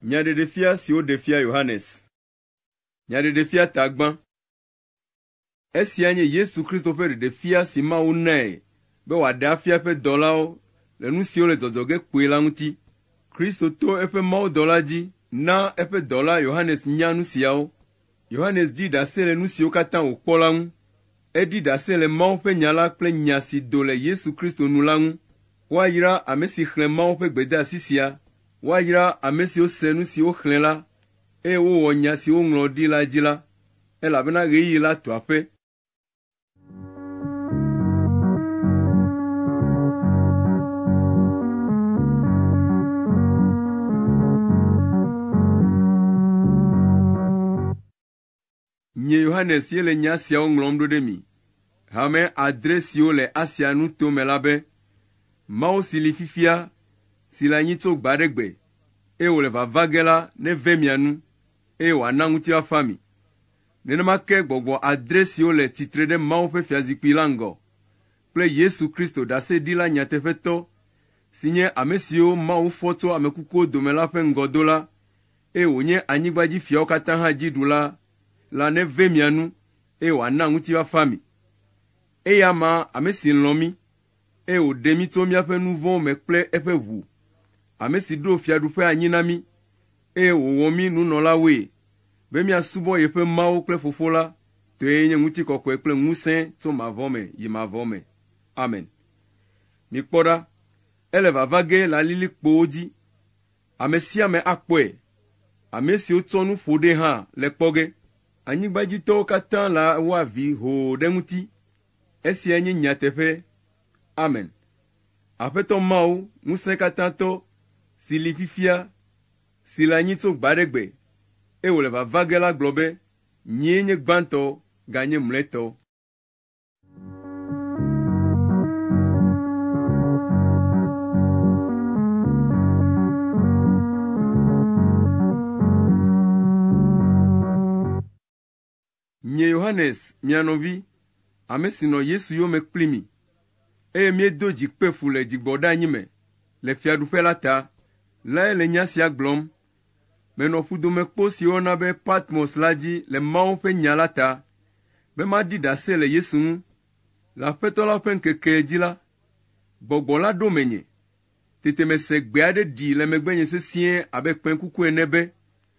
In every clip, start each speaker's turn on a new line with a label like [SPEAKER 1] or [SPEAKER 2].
[SPEAKER 1] Nyaɖeɖefia si woɖe fia Yohanes. Nyaɖeɖefia tagbã. Esia nye Yesu Kristo ƒe ɖeɖefia si Mawu nae be wòaɖe afia eƒe dɔlawo le nu siwo le dzɔdzɔ ge kpuie la ŋuti. Kristo to eƒe mawudɔla dzi na eƒe dɔla Yohanes nya nu siawo. Yohanes ɖi ɖase le nu siwo katã wòkpɔ la ŋu. Eɖi ɖase le Mawu ƒe nya la kple nya si do le Yesu Kristo nu la ŋu. Woayra ame si xlẽ Mawu ƒe gbedeasi sia, woayra ame siwo se nu si woxlẽ la, eye wowɔ nya si woŋlɔ ɖi la dzi la, elabena ɣeyiɣi la tu aƒe. Nye Yohanes ye le nya siawo ŋlɔm ɖo ɖe mi. Hame adre siwo le Asia nuto me la be, Mawu si li fifia, si le anyi tso gbe aɖe gbe, eye wòle vava ge la neve mia nu, eye wòana ŋutifafa mi. Nenema ke gbɔgbɔ adre siwo le tsitre ɖe Mawu ƒe Fiazikpui la ŋgɔ kple Yesu Kristo ɖaseɖila nyateƒetɔ, si nye ame siwo Mawu fɔ tso ame kukuwo dome la ƒe ŋgɔdola, eye wònye anyigba dzi fiawo katã hã dziɖula la neve mia nu, eye wòana ŋutifafa mi. Eyama ame si lɔ̃ mí, eye wòɖe mí tso míaƒe nu vɔ̃wo me kple eƒe ʋu, ame si ɖo fiaɖuƒe anyi na mí, eye wòwɔ mí nunɔlawoe, be míasubɔ yeƒe Mawu kple Fofo la, tɔe nye ŋutikɔkɔe kple ŋusẽ tso mavɔ me yi mavɔ me. Amen. Mikpɔ ɖa, ele vava ge le alilikpowo dzi. Ame sia ame akpɔe. Ame siwo tsɔ nu ƒo ɖee hã le kpɔ ge. Anyigbadzitɔwo katã la wɔ avi hoo ɖe eŋuti, Esia nye nyateƒe. Amen. Aƒetɔ Mawu, Ŋusẽkatãtɔ, si li fifia, si le anyi tso gbe aɖe gbe, eye wòle vava ge la gblɔ be, Nyee nye gbãtɔ ganye mlɔetɔ. Nye Yohanes, mia nɔvi, ame si nɔ Yesu yome kpli mi, eye míedo dzi kpe fu le dzigbɔɖeanyi me le Fiaɖuƒe la ta lae le nya sia gblɔm. Menɔ ƒudomekpo si woyɔna be Patmos la dzi le Mawu ƒe Nya la ta, be maɖi ɖase le Yesu ŋu. Le Aƒetɔ la ƒe ŋkekee dzi la, Gbɔgbɔ la ɖo menye. Tete mese gbe aɖe ɖi le megbenye sesĩe abe kpẽkuku ene be,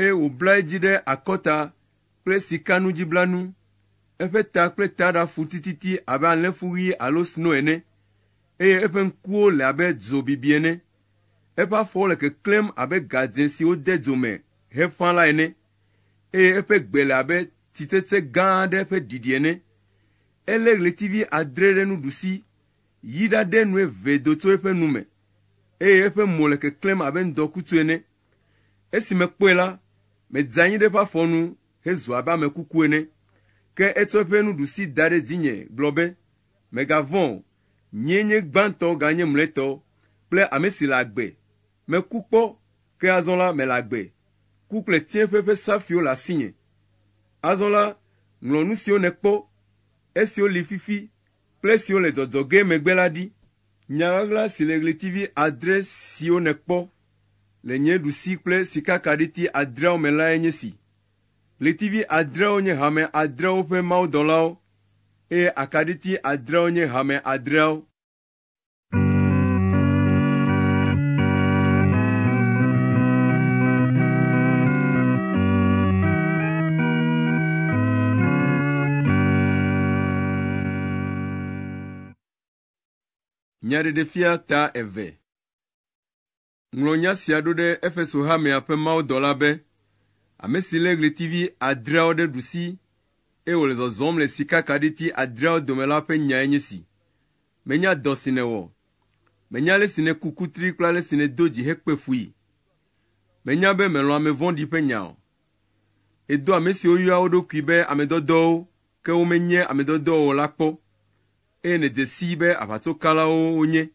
[SPEAKER 1] eye wòbla edzi ɖe akɔta kple sikanudziblanu. Eƒe ta kple taɖa fu tititi abe alẽfu ɣi alo sno ene, eye eƒe ŋkuwo le abe dzo bibi ene. Eƒe afɔwo le keklẽm abe gadzẽ si wode dzo me heƒã la ene, eye eƒe gbe le abe tsitsetse gã aɖe ƒe ɖiɖi ene. Elé ɣletivi adre ɖe nuɖusi, yi ɖaɖe nu eve do tso eƒe nu me, eye eƒe mo le keklẽm abe ŋdɔkutsu ene. Esi mekpɔe la, medze anyi ɖe eƒe afɔ nu hezu abe ame kuku ene. Ke etsɔ eƒe nuɖusi da ɖe dzinye gblɔ be, Mègavɔ̃ o, nyee nye gbãtɔ ganye mlɔetɔ kple ame si le agbe. Meku kpɔ, ke azɔ la, mele agbe. Ku kple tsiẽƒe ƒe safiwo le asinye. Azɔ la, ŋlɔ nu siwo nèkpɔ, esiwo li fifi kple esiwo le dzɔdzɔ ge megbe la ɖi. Nya ɣaɣla si le ɣletivi adre siwo nèkpɔ le nye ɖusi kple sikakaɖiti adreawo me lae nye si. Ɣletivi adreawo nye hame adreawo ƒe mawudɔlawo, eye akaɖiti adreawo nye hame adreawo. Nyaɖeɖefia ta eve. Ŋlɔ nya sia ɖo ɖe Efeso hamea ƒe mawudɔla be, Ame si lé ɣletivi adreawo ɖe ɖusi, eye wòle zɔzɔm le sikakaɖiti adreawo dome la ƒe nyae nye si. Menya dɔ si nèwɔ. Menya ale si nèku kutri kple ale si nèdo dzi hekpe fui. Menya be mèlɔ̃ ame vɔ̃ɖi ƒe nya o. Èdoa ame siwo yɔa wo ɖokui be ame dɔdɔwo, ke womenye ame dɔdɔwo o la kpɔ. eye nèdze sii be aʋatsokalawo wonye.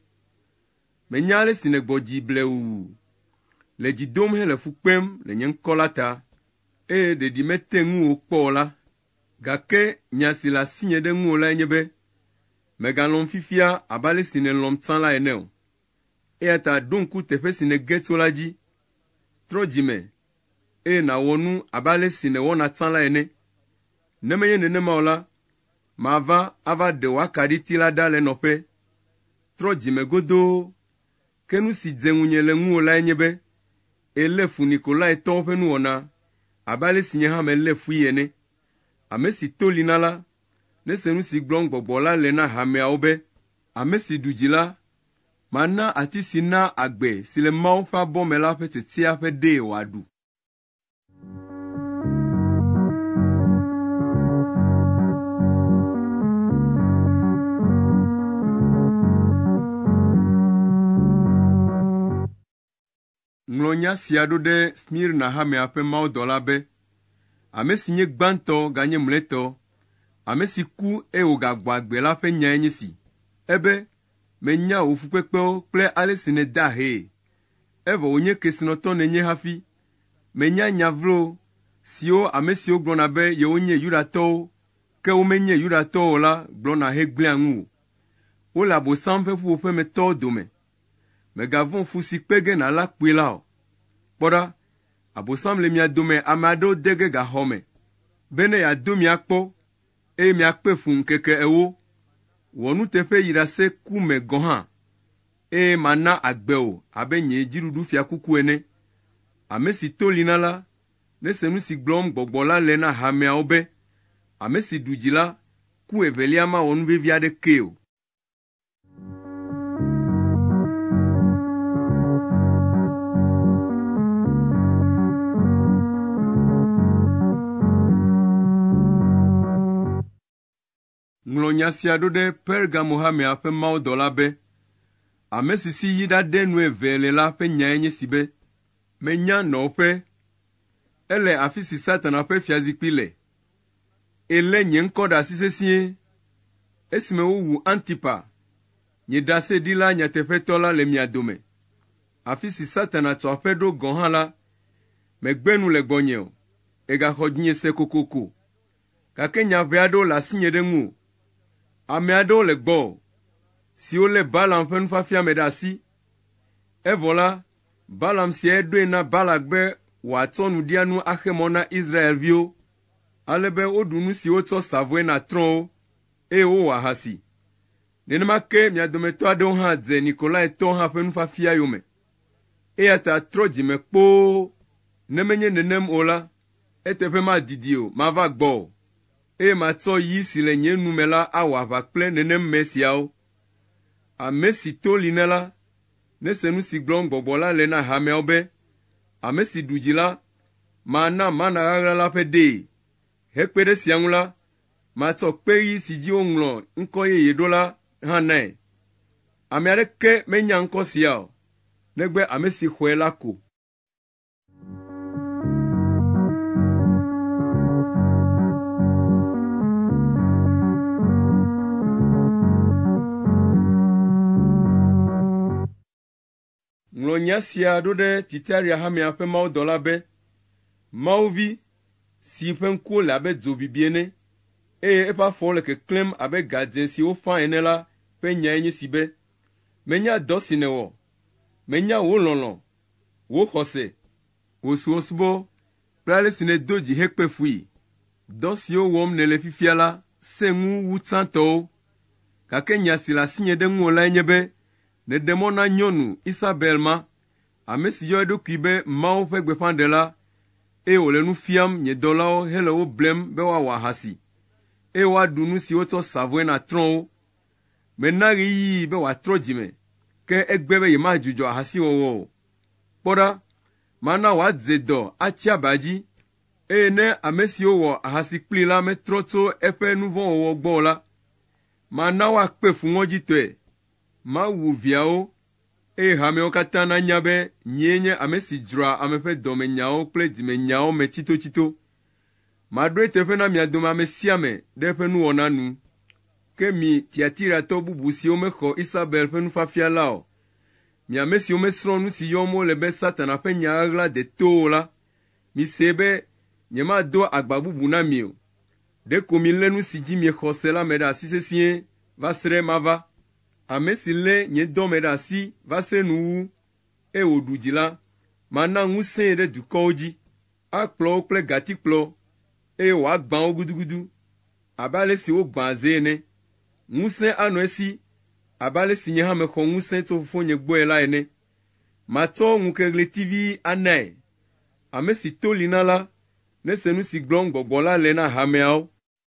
[SPEAKER 1] Menya ale si nègbɔ dzi blewu, le dzi dom hele fu kpem le nye ŋkɔ la ta, eye ɖeɖi mete ŋu wò kpɔ o la, gake nya si le asinye ɖe ŋuwò lae nye be, mègalɔ̃m fifia abe ale si nèlɔ̃m tsã la ene o. Eya ta ɖo ŋku teƒe si nège tso la dzi. Trɔ dzi me, eye nàwɔ nu abe ale si nèwɔna tsã la ene. Ne menye nenema o la, Mava ava ɖe wò akaɖiti la ɖa le nɔƒe. Trɔ dzi me godoo. Ke nu si dze ŋunye le ŋuwò lae nye be èlé fu Nikolaitɔwo ƒe nuwɔna abe ale si nye hã melé fui ene. Ame si to li na la, nese nu si gblɔm gbɔgbɔ la le na hameawo be, Ame si ɖu dzi la, mana ati si naa agbe si le Mawu ƒe abɔ me la ƒe tsetsea ƒe ɖee wòaɖu. Ŋlɔ nya sia ɖo ɖe Smirna hamea ƒe mawudɔla be, Ame si nye gbãtɔ ganye mlɔetɔ, ame si ku, eye wògagbɔ agbe la ƒe nyae nye si, ebe, Menya wò fukpekpewo kple ale si nèda ahee, evɔ wònye kesinɔtɔ nènye hafi, Menya nya vlo siwo ame siwo gblɔna be yewonye Yudatɔwo, ke womenye Yudatɔwo o la gblɔna hegblẽa ŋu o. Wole Abosam ƒe ƒuƒoƒe me tɔwo dome. Mègavɔ̃ fu si kpe ge nàlé akpoe la o. Kpɔ ɖa, Abosam le mia dome ame aɖewo de ge gaxɔ me be ne yeado mi akpɔ, eye miakpe fu ŋkeke ewo. Wɔ nuteƒe yi ɖase ku me gɔ̃ hã. eye mana agbe wò abe nye dziɖuɖufiakuku ene. Ame si to li na la, nese nu si gblɔm gbɔgbɔ la le na hameawo be, Ame si ɖu dzi la, ku evelia mawɔ nu vevi aɖekee o. Ŋlɔ nya sia ɖo ɖe Pergamo-hamea ƒe mawudɔla be, Ame si si yi ɖaɖe nu eve le la ƒe nyae nye si be, Menya nɔƒe, ele afi si Satana ƒe fiazikpui le, eye lé nye ŋkɔ ɖe asi sesĩe. Esime wowu Antipa, nye ɖaseɖila nyateƒetɔ la le mia dome, afi si Satana tsɔ aƒe ɖo gɔ̃ hã la, megbe nu le gbɔnye o, egaxɔ dzinye se kokoko. gake nya ʋɛ aɖewo le asinye ɖe ŋuwò. Ame aɖewo le gbɔwò, siwo lé Balaam ƒe nufiafia me ɖe asi. Evɔ la, Balaam siae ɖoe na Balak be wòatsɔ nuɖianu axe mɔ na Israel-viwo, ale be woɖu nu si wotsɔ sa vɔe na trɔ̃wo, eye wowɔ ahasi. Nenema ke mia dometɔ aɖewo hã dze Nikolaitɔwo hã ƒe nufiafia yome. Eya ta trɔ dzi me kpoo, ne menye nenem o la, Eteƒe madidi o, mava gbɔ o, eye matsɔ yi si le nye nu me la awɔ aʋa kple nenem me siawo. Ame si to li ne la, nese nu si gblɔm Gbɔgbɔ la le na hameawo be, Ame si ɖu dzi la, mana mana ɣaɣla la ƒe ɖee. Hekpe ɖe esia ŋu la, matsɔ kpe ɣi si dzi woŋlɔ ŋkɔ yeye ɖo la hã nae. Ame aɖeke menya ŋkɔ sia o, negbe ame si xɔe la ko. Ŋlɔ nya sia ɖo ɖe Titaria hamea ƒe mawudɔla be, Mawu vi, si ƒe ŋkuwo le abe dzo bibi ene, eye eƒe afɔwo le keklẽm abe ga dzẽ si woƒã ene la ƒe nyae nye si be, Menya dɔ si nèwɔ. Menya wò lɔlɔ̃ wò xɔse, wò subɔsubɔ kple ale si nèdo dzi hekpe fui. Dɔ siwo wɔm nèle fifia la sẽ ŋu wu tsãtɔwo. Gake nya si le asinye ɖe ŋuwò lae nye be nèɖe mɔ na nyɔnu Isabel ma, ame si yɔ eɖokui be Mawu ƒe gbeƒãɖela, eye wòle nu fiam nye dɔlawo hele wo blem be woawɔ ahasi, eye woaɖu nu si wotsɔ sa vɔe na trɔ̃wo Mena ɣeyiɣi be wòatrɔ dzi me, ke egbe be yemadzudzɔ ahasiwɔwɔ o. Kpɔ ɖa, mana wòadze dɔ atsi aba dzi, eye ne ame siwo wɔ ahasi kplii la metrɔ tso eƒe nu vɔ̃ wɔwɔ gbɔ o la, mana woakpe fu ŋɔdzitɔe. Mawu viawo, eye hameawo katã nanya be nyee nye ame si dzroa ame ƒe dɔmenyawo kple dzimenyawo me tsitotsito. Maɖoe teƒe na mia dome ame sia ame ɖe eƒe nuwɔna nu. Ke mi Tiatiratɔ bubu siwo mexɔ Isabel ƒe nufiafia la o, mi ame siwo mesrɔ̃ nu si yɔm wole be Satana ƒe nya ɣaɣla deto o la, misee be nyemado agba bubu na mi o. Ɖeko milé nu si dzi miexɔ se la me ɖe asi sesĩe va srẽ mava. Ame si lé nye dɔ me ɖe asi va srẽ nuwuwu, eye wòɖu dzi la, mana ŋusẽe ɖe dukɔwo dzi. Akplɔ wo kple gatikplɔ, eye wòagbã wo gudugudu abe ale si wogbãa ze ene. Ŋusẽ anɔ esi abe ale si nye hã mexɔ ŋusẽ tso Fofonye gbɔe la ene. Matsɔ ŋukeɣletivi anae. Ame si to li na la, nese nu si gblɔm Gbɔgbɔ la le na hameawo.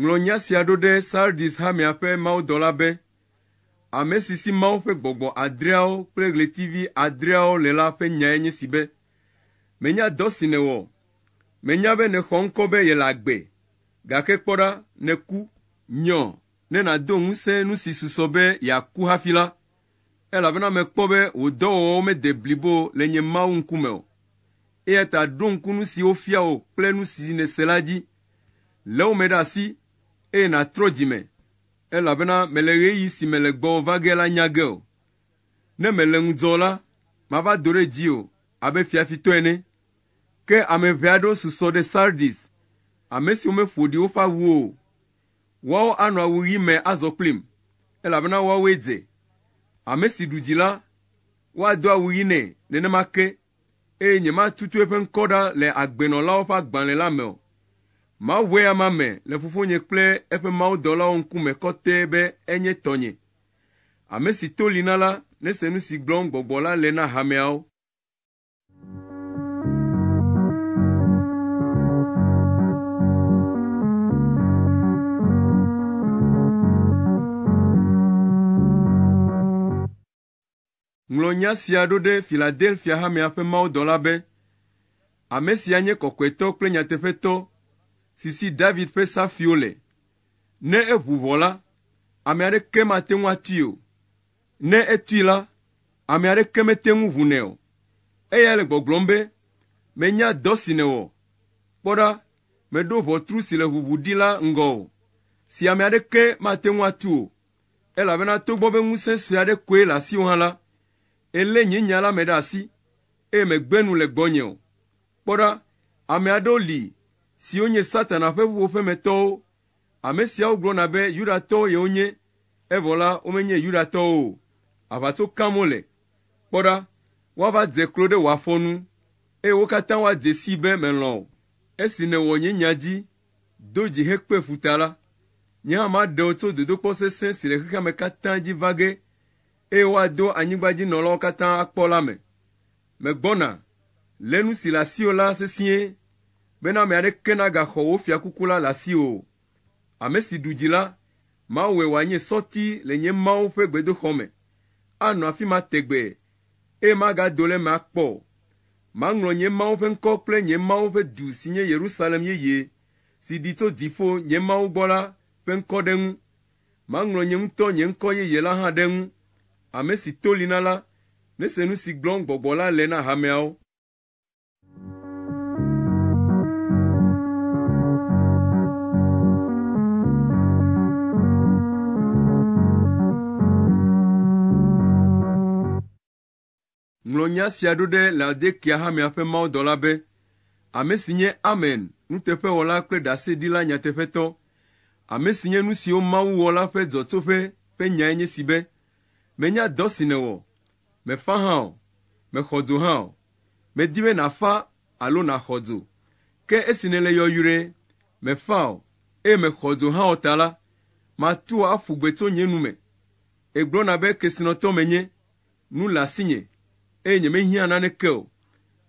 [SPEAKER 1] Ŋlɔ nya sia ɖo ɖe Sardis hamea ƒe mawudɔla be, Ame si si Mawu ƒe gbɔgbɔ adreawo kple ɣletivi adreawo le la ƒe nyae nye si be, Menya dɔ si nèwɔ. Menya be nèxɔ ŋkɔ be yele agbe, gake kpɔ ɖa, nèku. Nyɔ, ne nàdo ŋusẽ nu si susɔ be yeaku hafi la. elabena mekpɔ be wò dɔwɔwɔwo mede blibo le nye Mawu ŋkume o. Eya ta ɖo ŋku nu si wofia wò kple nu si nèse la dzi. Lé wo me ɖe asi, eye nàtrɔ dzi me, elabena mèle ɣeyiɣi si mele gbɔwò va ge la nya ge o. Ne mèle ŋudzɔ o la, mava do ɖe dziwò abe fiafitɔ ene. Ke ame ʋɛ aɖewo susɔ ɖe Sardis, ame siwo meƒo ɖi woƒe awuwo o. Woawo anɔ awu ɣi me azɔ kplim, elabena woawoe dze. Ame si ɖu dzi la, woado awu ɣi nɛ nenema ke, eye nyematutu eƒe ŋkɔ ɖa le agbenɔlawo ƒe agbalẽ la me o. Maʋẽ amea me le Fofonye kple eƒe mawudɔlawo ŋkume kɔtɛ be enye tɔnye. Ame si to li na la nese nu si gblɔm Gbɔgbɔ la le na hameawo. Ŋlɔ nya sia ɖo ɖe Filadelfia hamea ƒe mawudɔla be, Ame sia nye kɔkɔetɔ kple nyateƒetɔ si si David ƒe safiwo le. Ne eʋu ʋɔ la, ame aɖeke mate ŋu atui o. Ne etui la, ame aɖeke mete ŋu ʋunɛ o. Eyae le gbɔgblɔm be, Menya dɔ si nèwɔ. Kpɔ ɖa, mèɖo ʋɔtru si le ʋuʋu ɖi la ŋgɔ o, si ame aɖeke mate ŋu atu o, elabena togbɔ be ŋusẽ sue aɖe koe le asiwò hã la, èlé nye nya la me ɖe asi, eye mègbe nu le gbɔnye o. Kpɔ ɖa, ame aɖewo li siwo nye Satana ƒe ƒuƒoƒemetɔwo Ame siawo gblɔna be Yudatɔwo yewonye, evɔ la, womenye Yudatɔwo o. Aʋatso kam wole. Kpɔ ɖa, woava dze klo ɖe wò afɔ nu, eye wo katã woadze sii be melɔ̃ wò. Esi nèwɔ nye nya dzi, do dzi hekpe fu ta la, nye hã maɖe wò tso dodokpɔ sesẽ si le xexeame katã dzi va ge, eye woado anyigbadzinɔlawo katã akpɔ la me. Megbɔna, lé nu si le asiwò la sesĩe, bena ame aɖeke nagaxɔ wò fiakuku la le asiwò o. Ame si ɖu dzi la, mawɔe wòanye sɔti le nye Mawu ƒe gbedoxɔ me, anɔ afi ma tegbee, eye magado le eme akpɔ o. Maŋlɔ nye Mawu ƒe ŋkɔ kple nye Mawu ƒe du si nye Yerusalem yeye, si ɖi tso dziƒo nye Mawu gbɔ la, ƒe ŋkɔ ɖe eŋu, Maŋlɔ nye ŋutɔ nye ŋkɔ yeye la hã ɖe eŋu. Ame si to li na la, nese nu si gblɔm Gbɔgbɔ la le na hameawo. Ŋlɔ nya sia ɖo ɖe Laodikea hamea ƒe mawudɔla be, Ame si nye Amen, nuteƒewɔla kple ɖaseɖila nyateƒetɔ, ame si nye nu siwo Mawu wɔ la ƒe dzɔtsoƒe ƒe nyae nye si be, Menya dɔ si nèwɔ, mèfa hã o, mèxɔ dzo hã o. Medi be nàfa alo nàxɔ dzo, ke esi nèle yɔyrɔe, mèfa o, eye mèxɔ dzo hã o ta la, matu wò aƒu gbe tso nye nu me. Ègblɔna be kesinɔtɔ menye, nu le asinye eye nyemehiã naneke o.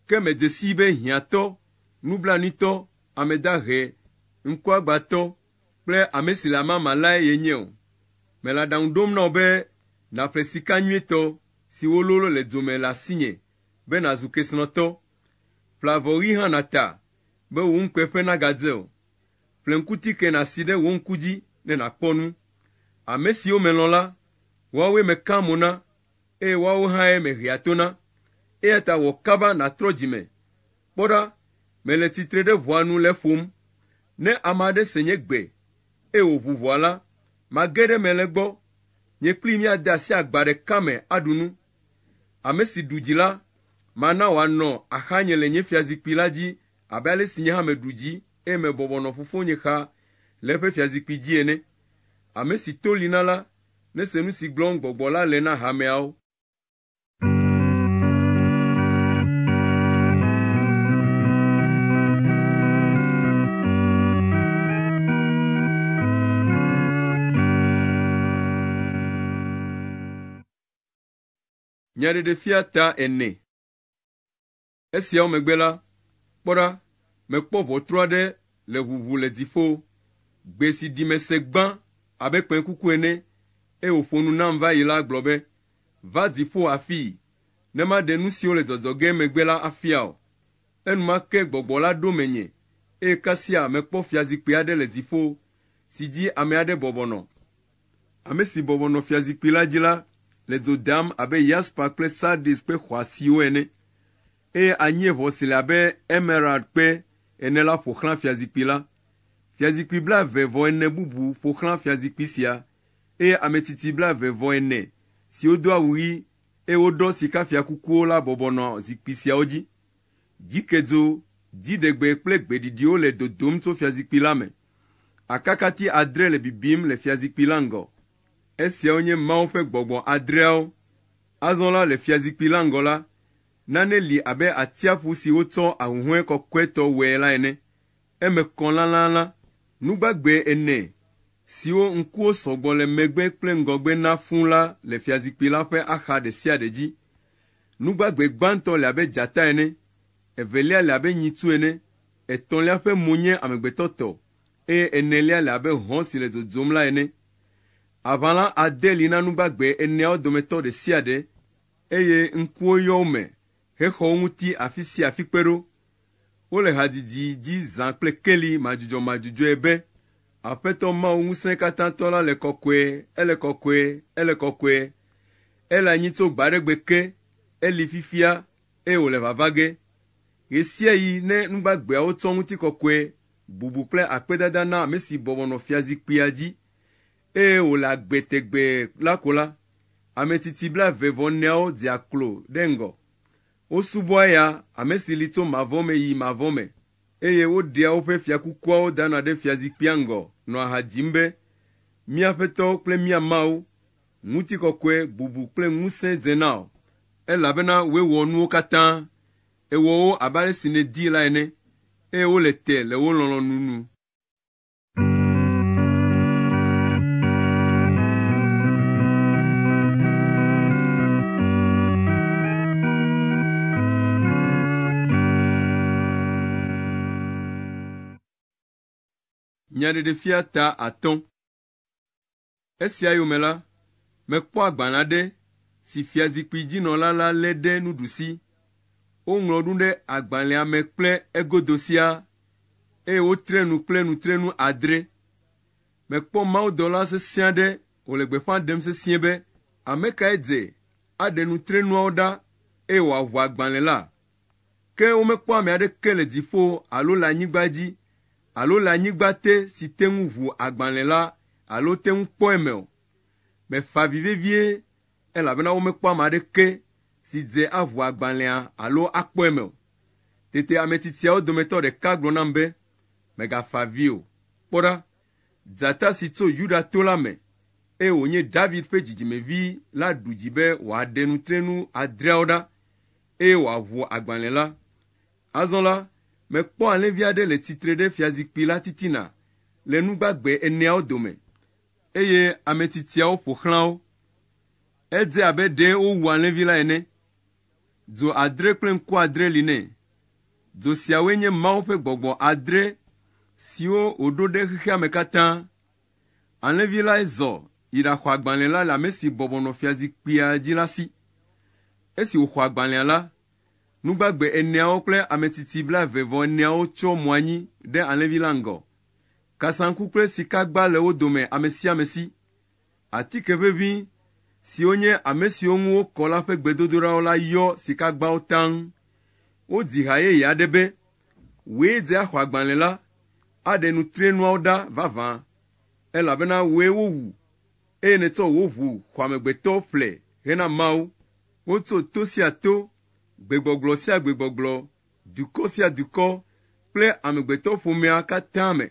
[SPEAKER 1] Ke medze sii be hiãtɔ, nublanuitɔ, ame dahe, ŋkuagbãtɔ kple ame si le amama lae yenye o. Mele aɖaŋu ɖom na wò be nàƒle sika nyuitɔ si wololo le dzo me le asinye be nàzu kesinɔtɔ. Ƒle avɔ ɣi hã nàta be wò ŋukpe ƒe nagadze o. Ƒle ŋkuti ke nàsi ɖe wò ŋku dzi ne nàkpɔ nu. Ame siwo melɔ̃ la, woawoe mekea mo na, eye woawo hãe mehea to na. Eya ta wɔ kaba nàtrɔ dzi me. Kpɔ ɖa, mele tsitre ɖe ʋɔa nu le ƒom. Ne ame aɖe se nye gbe, eye wòʋu ʋɔa la, mage ɖe eme le egbɔ. Nye kplii míade asi agba ɖeka me aɖu nu. Ame si ɖu dzi la, mana wòanɔ axanye le nye fiazikpui la dzi abe ale si nye hã meɖu dzii. eye mebɔbɔ nɔ Fofonye xa le eƒe fiazikpui dzi ene. Ame si to li na la, nese nu si gblɔm Gbɔgbɔ la le na hameawo. Nyaɖeɖefia ta ene. Esiawo megbe la, kpɔ ɖa, mekpɔ ʋɔtru aɖe le ʋuʋu le dziƒo. Gbe si ɖi mese gbã abe kpẽkuku ene, eye wòƒo nu nam va yi la gblɔ be, Va dziƒo afii, ne maɖe nu siwo le dzɔdzɔ ge megbe la afia wò. Enumake gbɔgbɔ la ɖo menye, eye kasia mekpɔ fiazikpui aɖe le dziƒo, si dzi ame aɖe bɔbɔ nɔ. Ame si bɔbɔ nɔ fiazikpui la dzi la le dzo deam abe yaspa kple sardis kpe xɔasiwo ene, eye anyieʋɔ si le abe emerald kpe ene la ƒo xlã fiazikpui la. Fiazikpui blaeve vɔ ene bubu ƒo xlã fiazikpui sia, eye ame tsitsi blaeve vɔ ene siwo do awu ɣi, eye woɖɔ sikafiakukuwo la bɔbɔ nɔ zikpui siawo dzi. Dzikedzo, dziɖegbe kple gbeɖiɖiwo le dodom tso fiazikpui la me. Akakati adre le bibim le fiazikpui la ŋgɔ. Esiawo nye Mawu ƒe gbɔgbɔ adreawo. Azɔ la, le fiazikpui la ŋgɔ la, nane li abe atiaƒu si wotsɔ ahuhɔ̃e kɔkɔetɔ wɔe la ene. Eme kɔ lãlãlã, nu gbagbe ene siwo ŋkuwo sɔ gbɔ le megbe kple ŋgɔgbe na fũu la le fiazikpui la ƒe axa ɖe sia ɖe dzi. Nu gbagbe gbãtɔ le abe dzata ene, evelia le abe nyitsu ene, Etɔ̃lia ƒe mo nye amegbetɔ tɔ, eye enelia le abe hɔ̃ si le dzodzom la ene. Aʋala ade li na nu gbagbe eneawo dometɔ ɖe sia ɖe, eye ŋkuwo yɔ wo me hexɔ wo ŋuti afi sia afi kpe ɖo. Wole hadzidzi dzi zã kple keli madzudzɔmadzudzɔe be, Aƒetɔ Mawu Ŋusẽkatãtɔ la le kɔkɔe, ele kɔkɔe, ele kɔkɔe. Ele anyi tso gbe aɖe gbe ke, eli fifia, eye wòle vava ge. Ɣesiaɣi ne nu gbagbeawo tsɔ ŋutikɔkɔe, bubu kple akpedada na ame si bɔbɔ nɔ fiazikpuia dzi eye wòle agbe tegbee la ko la, ametsitsi blaeve vɔ eneawo dzea klo ɖe ŋgɔ. Wosubɔa eya, ame si li tso mavɔ me yi mavɔ me, eye woɖea woƒe fiakukuawo dana ɖe fiazikpuia ŋgɔ nɔa ha dzim be, Mía Aƒetɔ kple mía Mawu! Ŋutikɔkɔe bubu kple ŋusẽ dze na wò, elabena wòe wɔ nuwo katã. Èwɔ wo abe ale si nèdi la ene, eye wole te le wò lɔlɔ̃nu nu. Nyaɖeɖefia ta atɔ̃. Esia yome la, mekpɔ agbalẽ aɖe si fiazikpui dzi nɔla la lé ɖe nuɖusi. Woŋlɔ nu ɖe agbalẽa me kple egodo siaa, eye wotre nu kple nutrenu adre. Mekpɔ mawudɔla sesẽ aɖe wòle gbeƒã ɖem sesĩe be, Ame kae dze aɖe nutrenuawo ɖa eye wòaʋu agbalẽ la? Ke womekpɔ ame aɖeke le dziƒo alo le anyigba dzi alo le anyigba te si te ŋu ʋu agbalẽ la alo te ŋu kpɔ eme o. Mefa avi vevie elabena womekpɔ ame aɖeke si dze aʋu agbalẽa alo akpɔ eme o. Tete ame tsitsiawo dometɔ ɖeka gblɔ nam be, Mègafa avi o. Kpɔ ɖa! Dzata si tso Yuda to la me, eye wònye David ƒe dzidzimevi la ɖu dzi be wòaɖe nutrenu adreawo ɖa, eye wòaʋu agbalẽ la. Azɔ la, mekpɔ alẽvi aɖe le tsitre ɖe fiazikpui la titina le nu gbagbe eneawo dome, eye ame tsitsiawo ƒo xlã wo. Edze abe ɖe wowu alẽvi la ene. Dzo adre kple ŋku adre li nɛ. Dzo siawoe nye Mawu ƒe gbɔgbɔ adre siwo wòɖo ɖe xexea me katã. Alẽvi lae zɔ yi ɖaxɔ agbalẽ la le ame si bɔbɔ nɔ fiazikpuia dzi la si. Esi wòxɔ agbalẽa la, nu gbagbe eneawo kple ametsitsi blaeve-vɔ-eneawo tsyɔ mo anyi ɖe alẽvi la ŋgɔ. Kasaŋku kple sikagba le wo dome amesiamesi. Atike ʋeʋĩ siwo nye ame siwo ŋu wokɔ la ƒe gbedodoɖawo la yɔ sikagbawo taŋ. Wodzi ha yeye aɖe be, Wòe dze axɔ agbalẽ la, aɖe nutrienuawo ɖa vavã, elabena wòe wowu, eye nètsɔ wò ʋu xɔamegbetɔ ƒle hena Mawu. Wotso to sia to, gbegbɔgblɔ sia gbegbɔgblɔ, dukɔ sia dukɔ kple amegbetɔƒomea katã me.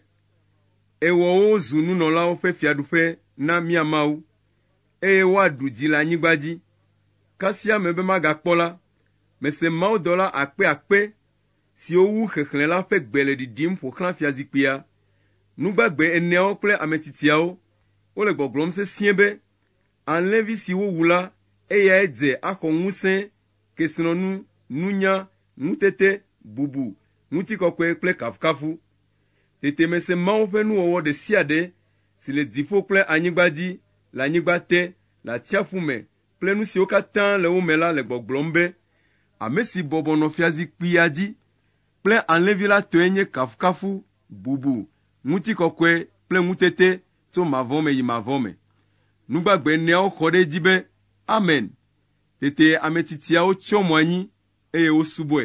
[SPEAKER 1] Ewɔ wo zu nunɔlawo ƒe fiaɖuƒe na mía Mawu, eye woaɖu dzi le anyigba dzi. Kasia ame be magakpɔ la, mese mawudɔla akpe akpe siwo wu xexlẽ la ƒe gbe le ɖiɖim ƒo xlã fiazikpuia. Nu gbagbe eneawo kple ame tsitsiawo, wole gbɔgblɔm sesĩe be, Alẽvi si wowu la, eyae dze axɔ ŋusẽ, kesinɔnu, nunya, ŋutete, bubu, ŋutikɔkɔe kple kafukafu. Tete mese Mawu ƒe nuwɔwɔ ɖe sia ɖe si le dziƒo kple anyigba dzi, le anyigba te, le atsiaƒu me kple nu siwo katã le wo me la le gbɔgblɔm be, Ame si bɔbɔ nɔ fiazikpuia dzi kple Alẽvi la tɔe nye kafukafu, bubu, ŋutikɔkɔe kple ŋutete tso mavɔ me yi mavɔ me. Nu gbagbe eneawo xɔ ɖe edzi be, Amen! Tete ame tsitsiawo tsyɔ mo anyi eye wosubɔe.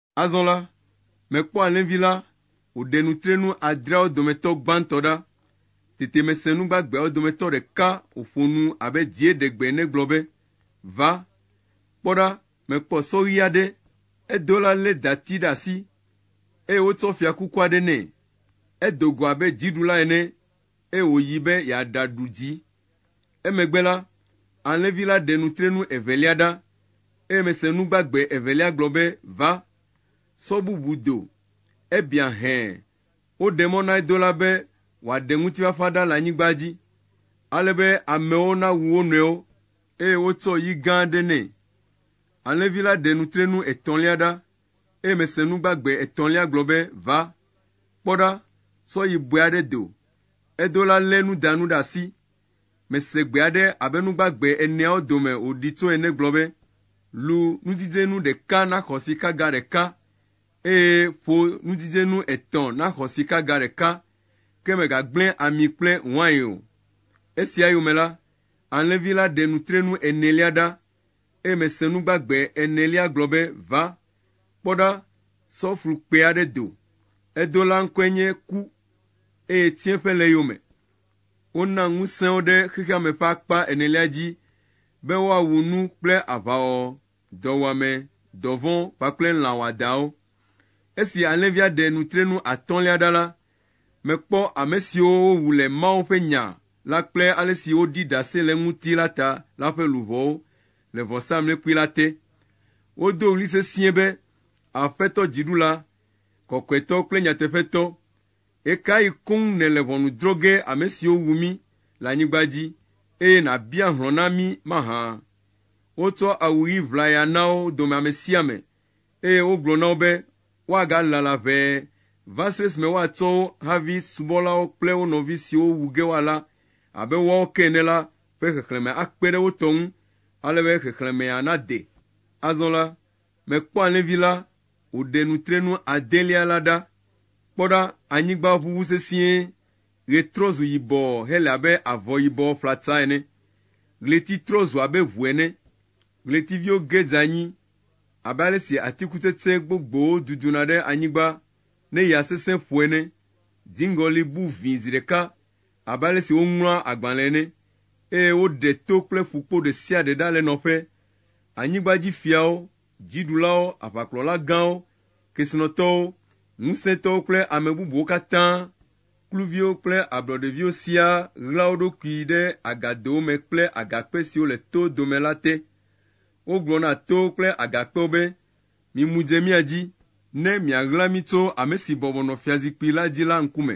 [SPEAKER 1] Azɔ la, mekpɔ alẽvi la wòɖe nutrenu adreawo dometɔ gbãtɔ ɖa. Tete mese nu gbagbeawo dometɔ ɖeka wòƒo nu abe dzie ɖe gbe ene gblɔ be, Va, kpɔ ɖa, mekpɔ sɔ ɣi aɖe, edola lé dati ɖe asi, eye wotsɔ fiakuku aɖe nɛ. Edo go abe dziɖula ene, eye wòyi be yeaɖaɖu dzi. Emegbe la, alẽvi la ɖe nutrenu evelia ɖa, eye mese nu gbagbe evelia gblɔ be, Va, sɔ bubu do. Ebiã hẽ. Woɖe mɔ na edola be wòaɖe ŋutifafa ɖa le anyigba dzi, ale be amewo nawu wo nɔewo, eye wotsɔ yi gã aɖe nɛ. Alẽvi la ɖe nutrenu etɔ̃lia ɖa, eye mese nu gbagbe etɔ̃lia gblɔ be, Va, kpɔ ɖa, sɔ yi bɔe aɖe do. Edola lé nudanu ɖe asi, Mese gbe aɖe abe nu gbagbe eneawo dome wòɖi tso ene gblɔ be, Lu nudzidzenu ɖeka naxɔ sikaga ɖeka, eye ƒo nudzidzenu etɔ̃ naxɔ sikaga ɖeka, ke mègagblẽ ami kple wain o. Esia yome la, alẽvi la ɖe nutrenu enelia ɖa, eye mese nu gbagbe enelia gblɔ be, Va, kpɔ ɖa, sɔ flu kpɛ aɖe do. Edo la ŋkɔe nye Ku, eye tsiẽƒe le eyome. Wona ŋusẽ wo ɖe xexeame ƒe akpa enelia dzi be woawu nu kple aʋawɔwɔ, dɔwuame, dɔvɔ̃ kpakple lã wɔadãwo. Esi alẽvia ɖe nutrenu atɔ̃lia ɖa la, mekpɔ ame siwo wowu le Mawu ƒe Nya la kple ale si woɖi ɖase le eŋuti la ta la ƒe luʋɔwo le vɔsamlekpui la te. Wodo ɣli sesĩe be, Aƒetɔ Dziɖula, kɔkɔetɔ kple nyateƒetɔ, Ɣekaɣi koŋ nèle ʋɔnu drɔ̃ ge ame siwo wu mí le anyigba dzi, eye nàbia hlɔ̃ na mí mahã? Wotsɔ awu ɣi ʋlaya na wo dome ame sia ame, eye wogblɔ na wo be woagalala ʋɛ va se ɖe esime woatsɔ wo havi subɔlawo kple wo nɔvi siwo wu ge woalã abe woawo ke ene la ƒe xexlẽme akpe ɖe wo tɔ ŋu ale be xexlẽmea nade. Azɔ la, Mekpɔ alẽvi la wòɖe nutrenu adelia la ɖa. Kpɔ ɖa, anyigba ʋuʋu sesĩe, ɣe trɔ zu yibɔ hele abe avɔ yibɔ ƒlata ene, ɣleti trɔ zu abe ʋu ene, ɣletiviwo ge dze anyi abe ale si atikutsetse gbogbowo duduna ɖe anyigba ne ya sesẽ ƒo ene, dziŋgɔli bu vĩi zi ɖeka, abe ale si woŋlɔa agbalẽ ene, eye woɖe to kple ƒukpo ɖe sia ɖe ɖa le nɔƒe. Anyigbadzifiawo, dziɖulawo, aʋakplɔla gãwo, kesinɔtɔwo, ŋusẽtɔwo kple ame bubuwo katã, kluviwo kple ablɔɖeviwo siaa ɣlaa wo ɖokui ɖe agadowo me kple agakpe siwo le to dome la te. Wogblɔ na towo kple agakpewo be, Mimu dze mía dzi, ne miaɣla mí tso ame si bɔbɔ nɔ fiazikpui la dzi la ŋkume.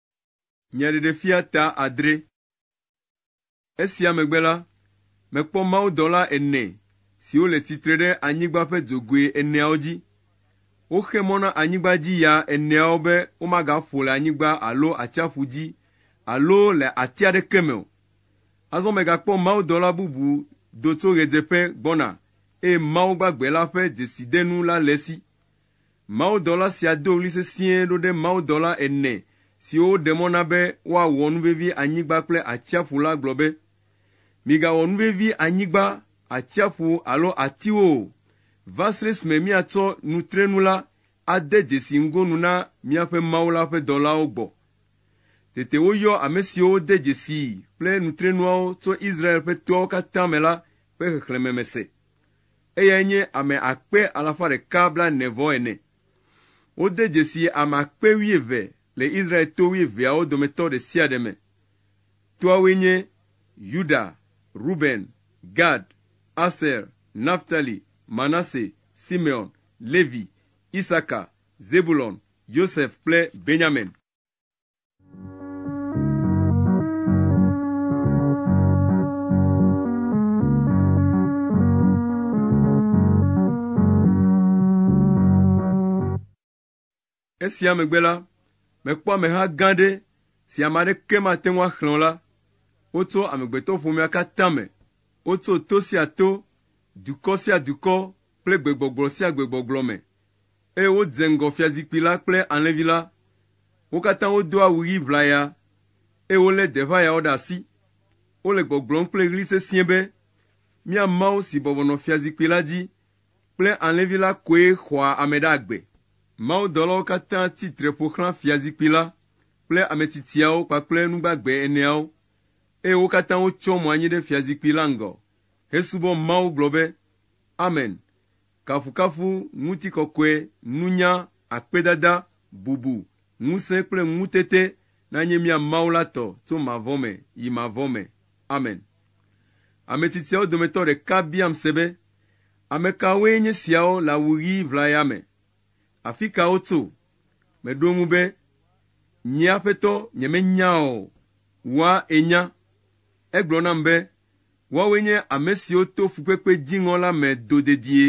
[SPEAKER 1] Nya Ɖeɖefia ta adre. Esia megbe la, mekpɔ mawudɔla ene siwo le tsitre ɖe anyigba ƒe dzogoe eneawo dzi. Woxe mɔ na anyigba dzi ya eneawo be womagaƒo le anyigba alo atsiaƒu dzi alo le ati aɖeke me o. Azɔ megakpɔ mawudɔla bubu do tso ɣedzeƒe gbɔna eye Mawu gbagbe la ƒe dzesidenu la le esi. Mawudɔla sia do ɣli sesĩe ɖo ɖe mawudɔla ene siwo woɖe mɔ na be woawɔ nu vevi anyigba kple atsiaƒu la gblɔ be, Migawɔ nu vevi anyigba, atsiaƒu alo atiwo o, va srɛ esime miatsɔ nutrenu la ade dzesi ŋgonu na miaƒe Mawu la ƒe dɔlawo gbɔ. Tete woyɔ ame siwo wode dzesii kple nutrenuawo tso Israel ƒe toawo katã me la ƒe xexlẽme me se. eyae nye ame akpe alafa ɖeka blaene-vɔ-ene. Wode dzesi ame akpe wuieve le Israel to wuieveawo dometɔ ɖe sia ɖe me. Toawoe nye, Yuda, Ruben, Gad, Aser, Naftali, Manase, Simeon, Levi, Isaka, Zebulon, Yosef kple Benyamin. Esia megbe la, mekpɔ ameha gã aɖe si ame aɖeke mate ŋu axlẽ o la. Wotso amegbetɔƒomea katã me. Wotso to sia to, dukɔ sia dukɔ kple gbegbɔgblɔ sia gbegbɔgblɔ me eye wodze ŋgɔ fiazikpui la kple alẽvi la. Wo katã wodo awu ɣi ʋlaya, eye wolé deʋayawo ɖe asi. Wole gbɔgblɔm kple ɣli sesĩe be, Mía Mawu si bɔbɔ nɔ fiazikpui la dzi kple alẽvi la koe xɔa ame ɖe agbe. Mawudɔlawo katã tsi tre ƒo xlã fiazikpui la kple ametsitsiawo kpakple nu gbagbe eneawo, eye wo katã wotsyɔ mo anyi ɖe fiazikpui la ŋgɔ hesubɔ Mawu gblɔ be, Amen, Kafukafu, ŋutikɔkɔe, nunya, akpedada, bubu, ŋusẽ kple ŋutete nanye mía Mawu la tɔ tso mavɔ me yi mavɔ me. Amen. Ame tsitsiawo dometɔ ɖeka biam se be, Amekawoe nye siawo le awu ɣi ʋlaya me? Afika wotso? Meɖo eŋu be, Nye Aƒetɔ, nyemenya o. Wòa enya. Egblɔ nam be, Woawoe nye ame siwo to fukpekpe dziŋɔ la me do dedie.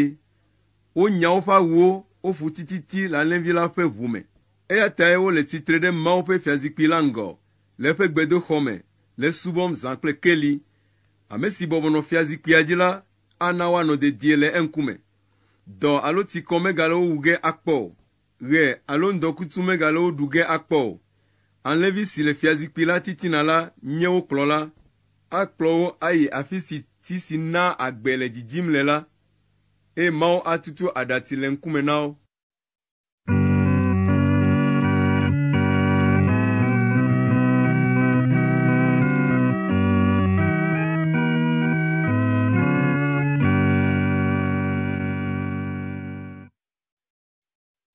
[SPEAKER 1] Wonya woƒe awuwo, woƒu tititi le alẽvi la ƒe ʋu me. Eya tae wole tsitre ɖe Mawu ƒe fiazikpui la ŋgɔ le eƒe gbedoxɔ me le esubɔm zã kple keli. Ame si bɔbɔ nɔ fiazikpuia dzi la ana woanɔ dedie le eŋkume. Dɔ alo tsikɔ megale wo wu ge akpɔ o. ɣe alo ŋdɔkutsu megale wo ɖu ge akpɔ o. Alẽvi si le fiazikpui la titina la nye wo kplɔla. Akplɔ wo ayi afi si ti si naa agbe le dzidzim le la, eye Mawu atutu aɖatsi le ŋkume na wo.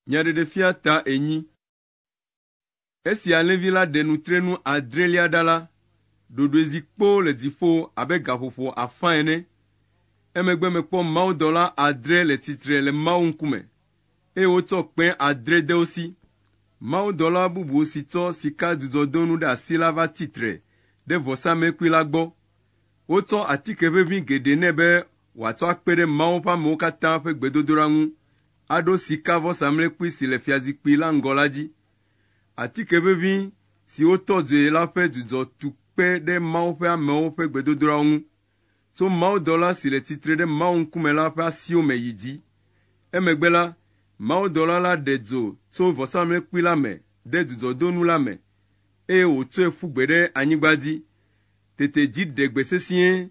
[SPEAKER 1] Nya ɖeɖefia ta enyi. Esi alẽvi la ɖe nutrenu adrelia ɖa la, ɖoɖoe zi kpoo le dziƒo abe gaƒoƒo afã ene. Emegbe mekpɔ mawudɔla adre le tsitre le Mawu ŋkume, eye wotsɔ kpẽ adre de wo si. Mawudɔla bubu si tsɔ sika dzudzɔdonu ɖe asi la va tsi tre ɖe vɔsamlekpui la gbɔ. Wotsɔ atike ʋeʋĩ geɖe nɛ be wòatsɔ akpe ɖe Mawu ƒe amewo katã ƒe gbedodoɖa ŋu aɖo sikavɔsamlekpui si le fiazikpui la ŋgɔ la dzi. Atike ʋeʋĩ si wotɔ dzoe la ƒe dzudzɔ tu kpe ɖe Mawu ƒe amewo ƒe gbedodoɖawo ŋu, tso mawudɔla si le tsitre ɖe Mawu ŋkume la ƒe asiwo me yi dzi. Emegbe la, mawudɔla la ɖe dzo tso vɔsamlekpui la me de dzudzɔdonu la me, eye wòtsɔe ƒu gbe ɖe anyigba dzi. Tete dzi ɖe gbe sesĩe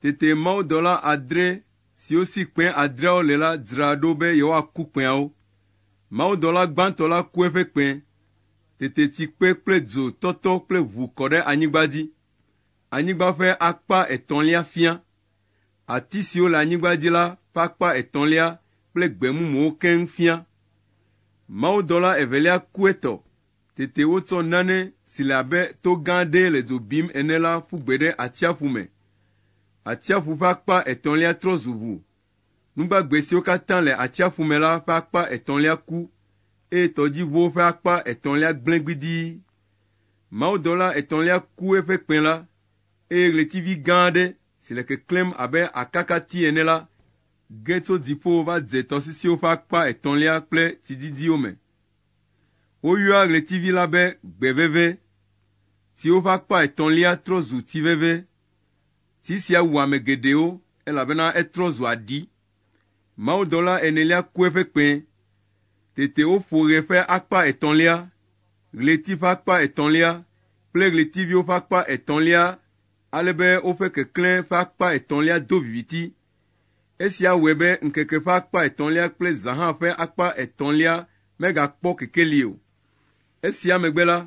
[SPEAKER 1] Tete mawudɔla adre siwo si kpẽ adreawo le la dzra ɖo be yewoaku kpẽawo. Mawudɔla gbãtɔ la ku eƒe kpẽ. Tete tsi kpe kple dzo tɔtɔ kple ʋu kɔ ɖe anyigba dzi. Anyigba ƒe akpa etɔ̃lia fia. Ati siwo le anyigba dzi la ƒe akpa etɔ̃lia kple gbe mumuwo keŋ fia. Mawudɔla evelia ku etɔ. Tete wotsɔ nane si le abe to gã aɖee le dzo bim ene la ƒu gbe ɖe atsiaƒu me. Atsiaƒu ƒe akpa etɔ̃lia trɔ zu ʋu. Nugbagbe siwo katã le atsiaƒu me la ƒe akpa etɔ̃lia ku, eye tɔdziʋuwo ƒe akpa etɔ̃lia gblẽ gbidii. Mawudɔla etɔ̃lia ku eƒe kpẽ la, eye ɣletivi gã aɖe si le keklẽm abe akakati ene la ge tso dziƒo va dze tɔsisiwo ƒe akpa etɔ̃lia kple tsididiwo me. Woyɔa ɣletivi la be gbe veve, siwo ƒe akpa etɔ̃lia trɔ zu ti veve. Ti sia wu ame geɖewo elabena etrɔ zu aɖi. Mawudɔla enelia ku eƒe kpẽ. Tete woƒo ɣe ƒe akpa etɔ̃lia, ɣleti ƒe akpa etɔ̃lia kple ɣletiviwo ƒe akpa etɔ̃lia ale be woƒe keklẽ ƒe akpa etɔ̃lia do viviti. Esia wɔe be ŋkeke ƒe akpa etɔ̃lia kple zã hã ƒe akpa etɔ̃lia megakpɔ kekeli o. Esia megbe la,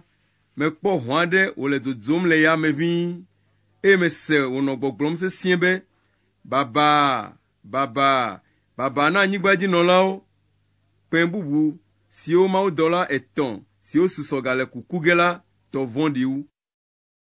[SPEAKER 1] mekpɔ ʋɔ aɖe wòle dzodzom le yame ʋĩi, eye mese wònɔ gbɔgblɔm sesĩe be, Babaa! Babaa! Babaa na anyigbadzinɔlawo! Kpẽ bubu siwo mawudɔla etɔ̃ siwo susɔ gale ku ku ge la tɔ vɔ̃ɖi wu.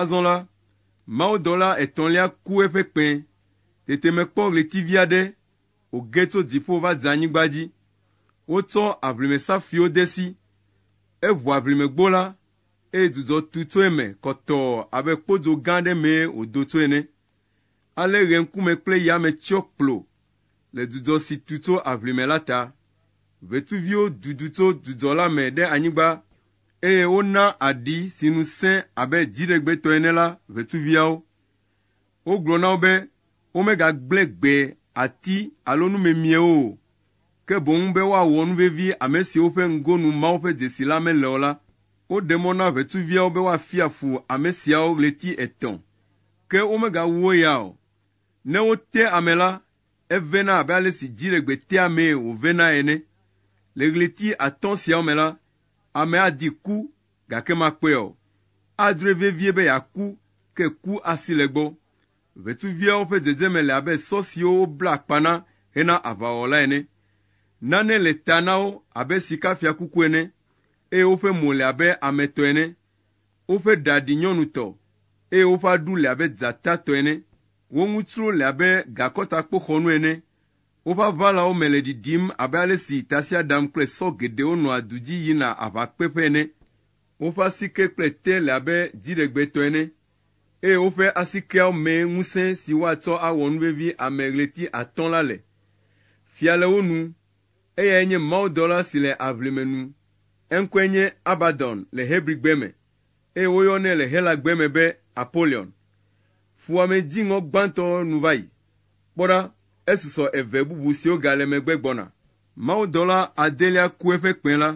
[SPEAKER 1] Azɔ la, mawudɔla etɔ̃lia ku eƒe kpẽ. Tete mekpɔ ɣletivi aɖe wòge tso dziƒo va dze anyigba dzi. Wotsɔ aʋlimesafuiwo de esi. Eʋu aʋlimegbo la, eye dzudzɔ tu tso eme kɔtɔɔ abe kpodzo gã aɖe mee wòdo tso ene. Ale ɣeŋkume kple yame tsyɔ kplo le dzudzɔ si tu tso aʋlime la ta. Ʋetsuviwo dudu tso dzudzɔ la me ɖe anyigba eye wona aɖi si nu sẽ abe dziɖegbetɔ ene la ʋetsuviawo. Wogblɔ na wo be womegagblẽ gbe ati alo nu memiewo o, ke boŋ be woawɔ nu vevi ame siwo ƒe ŋgonu Mawu ƒe dzesi la mele o la. Woɖe mɔ na ʋetsuviawo be woafia fu ame siawo ɣleti etɔ̃, ke womegawuwo ya o. Ne wote ame la, evena abe ale si dziɖegbe tea amee wòvena ene. Le ɣleti atɔ̃ siawo me la, Ame adi ku, gake makpɔe o. Adrɔe vevie be yeaku, ke ku asi le egbɔ. Ʋetsuviawo ƒe dzedzeme le abe sɔ siwo wobla akpa na hena aʋawɔwɔ la ene. Nane le ta na wo abe sikafiakuku ene, eye woƒe mo le abe ame tɔ ene. Woƒe ɖa ɖi nyɔnutɔ, eye woƒe aɖu le abe dzata tɔ ene. Wo ŋu tsro le abe gakɔtakpoxɔnu ene, Woƒe aʋalawo me le ɖiɖim abe ale si tasiaɖam kple sɔ geɖewo nɔa du dzi yina aʋakpeƒe ene. Woƒe asike kple te le abe dziɖegbe tɔ ene, eye woƒe asikeawo mee ŋusẽ si woatsɔ awɔ nu vevi ame ɣleti atɔ̃ la le. Fia le wo nu. Eyae nye mawudɔla si le aʋlime nu. Eŋkɔe nye Abadɔn le Hebrigbe me, eye woyɔnɛ le Helagbe me be Apolion. Fuwɔame dziŋɔ gbãtɔ nu va yi, Kpɔ ɖa, esusɔ eve bubu siwo gale megbe gbɔna. Mawudɔla adelia ku eƒe kpẽ la.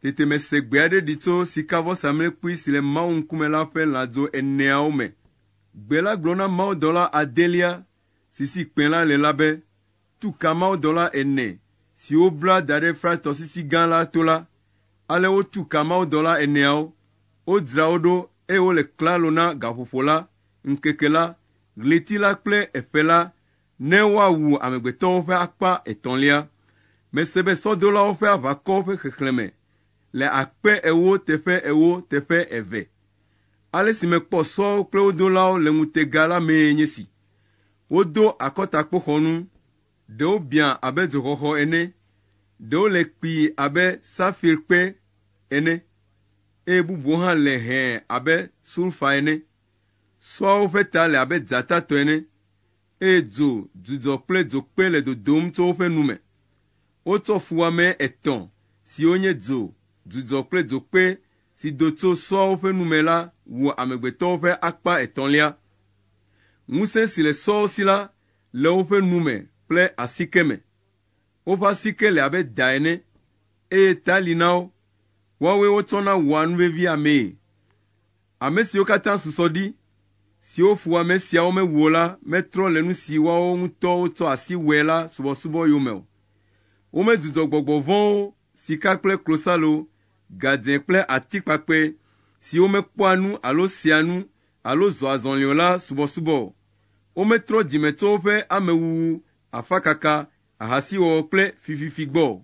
[SPEAKER 1] Tete mese gbe aɖe ɖi tso sikavɔsamlekpui si le Mawu ŋkume la ƒe lãdzo eneawo me. Gbe la gblɔ na mawudɔla adelia si si kpẽ la le la be, Tu ka mawudɔla ene siwo bla da ɖe Frat Tɔsisi Gã la to la. Ale wotu ka mawudɔla eneawo, wodzra wo ɖo eye wole klalo na gaƒoƒo la, ŋkeke la, ɣleti la kple eƒe la, ne woawu amegbetɔwo ƒe akpa etɔ̃lia. Mese be sɔdolawo ƒe aʋakɔwo ƒe xexlẽme le akpe ewo teƒe ewo teƒe eve. Ale si mekpɔ sɔwo kple wo dolawo le ŋutega la mee nye si, Wodo akɔtakpoxɔnu, ɖewo biã abe dzoxɔxɔ ene, ɖewo le kpii abe safirkpe ene, eye bubuwo hã le hẽ abe sulfa ene. Sɔawo ƒe ta le abe dzata tɔ ene, eye dzo dzudzɔ kple dzokpe le dodom tso woƒe nu me. Wotsɔ fuwɔame etɔ̃ siwo nye dzo dzudzɔ kple dzokpe si do tso sɔawo ƒe nu me la wɔ amegbetɔwo ƒe akpa etɔ̃lia. Ŋusẽ si le sɔawo si la le woƒe nu me kple asike me. Woƒe asike le abe da ene, eye ta li na wo, woawoe wotsɔna wɔa nuvevi amee. Ame siwo katã susɔ ɖi, siwo ƒo ame siawo mewu o la metrɔ le nu si woawo ŋutɔwo tsɔ asi wɔe la subɔsubɔ yome o. Womedzudzɔ gbɔgbɔ vɔ̃wo, sika kple klosalo, gadze kple atikpakpɛ, siwo mekpɔa nu alo sea nu alo zɔa azɔli o la subɔsubɔ o. Wometrɔ dzime tso woƒe amewuwu, afakaka, ahasiwɔwɔ kple fififi gbɔ o.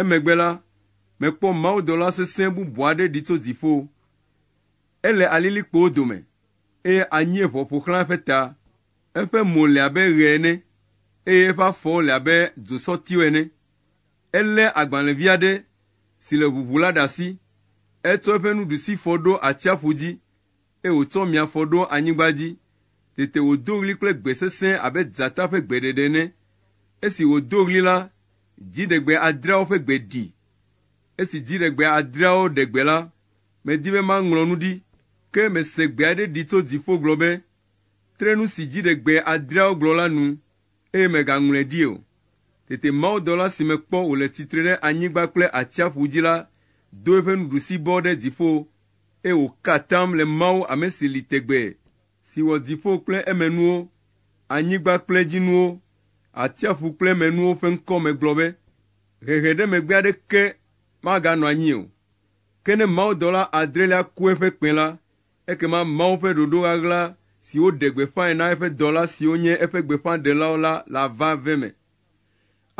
[SPEAKER 1] Emegbe la, mekpɔ mawudɔla sesẽ bubu aɖe ɖi tso dziƒo. Ele alilikpowo dome, eye anyieʋɔ ƒo xlã eƒe ta. Eƒe mo le abe ɣe ene, eye eƒe afɔwo le abe dzosɔtiwo ene. Elé agbalẽvi aɖe si le ʋuʋu la ɖe asi. Etsɔ eƒe nuɖusifɔ ɖo atsiaƒu dzi, Eye wòtsɔ mia fɔ ɖo anyigba dzi. Tete wòdo ɣli kple gbe sesẽ abe dzata ƒe gbeɖeɖe ene. Esi wòdo ɣli la, dziɖegbe adreawo ƒe gbe ɖi. Esi dziɖegbe adreawo ɖe gbe la, medi be maŋlɔ nu ɖi, ke mese gbe aɖe ɖi tso dziƒo gblɔ be, Tre nu si dziɖegbe adreawo gblɔ la nu eye mègaŋlɔe ɖi o. Tete mawudɔla si mekpɔ wòle tsitre ɖe anyigba kple atsiaƒu dzi la do eƒe nuɖusibɔ ɖe dziƒo, eye wòka atam le Mawu ame si li tegbee, si wɔ dziƒo kple emenuwo, anyigba kple edzinuwo, atsiaƒu kple emenuwo ƒe ŋkɔ me gblɔ be, Hehe ɖe megbe aɖeke maganɔ anyi o. Ke ne mawudɔla adrelia ku eƒe kpẽ la, Ekema Mawu ƒe ɖoɖo ɣaɣla si woɖe gbeƒãe na eƒe dɔla siwo nye eƒe gbeƒãɖelawo la le aʋa ve me.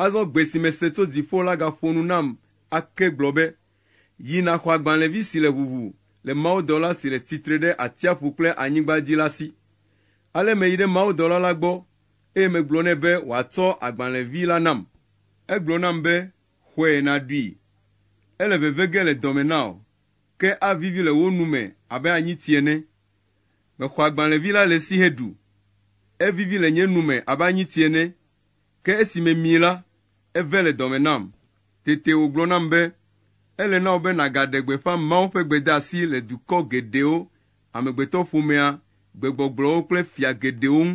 [SPEAKER 1] Azɔ gbe si mese tso dziƒo la gaƒo nu nam ake gblɔ be, Yi nàxɔ agbalẽvi si le ʋuʋu le mawudɔla si le tsitre ɖe atsiaƒu kple anyigba dzi la si. Ale meyi ɖe mawudɔla la gbɔ, eye megblɔ nɛ be wòatsɔ agbalẽvi la nam. Egblɔ nam be, Xɔe nàɖui. Ele veve ge le dɔme na wò. Ke avivi le wo nu me abe anyiti ene. Mexɔ agbalẽvi la le esi heɖu. Evivi le nye nu me abe anyiti ene, ke esi memii la, eve le dɔme nam. Tete wògblɔ nam be, Ele na wò be nàgaɖe gbeƒã Mawu ƒe gbedeasi le dukɔ geɖewo, amegbetɔƒomea, gbegbɔgblɔwo kple fia geɖewo ŋu.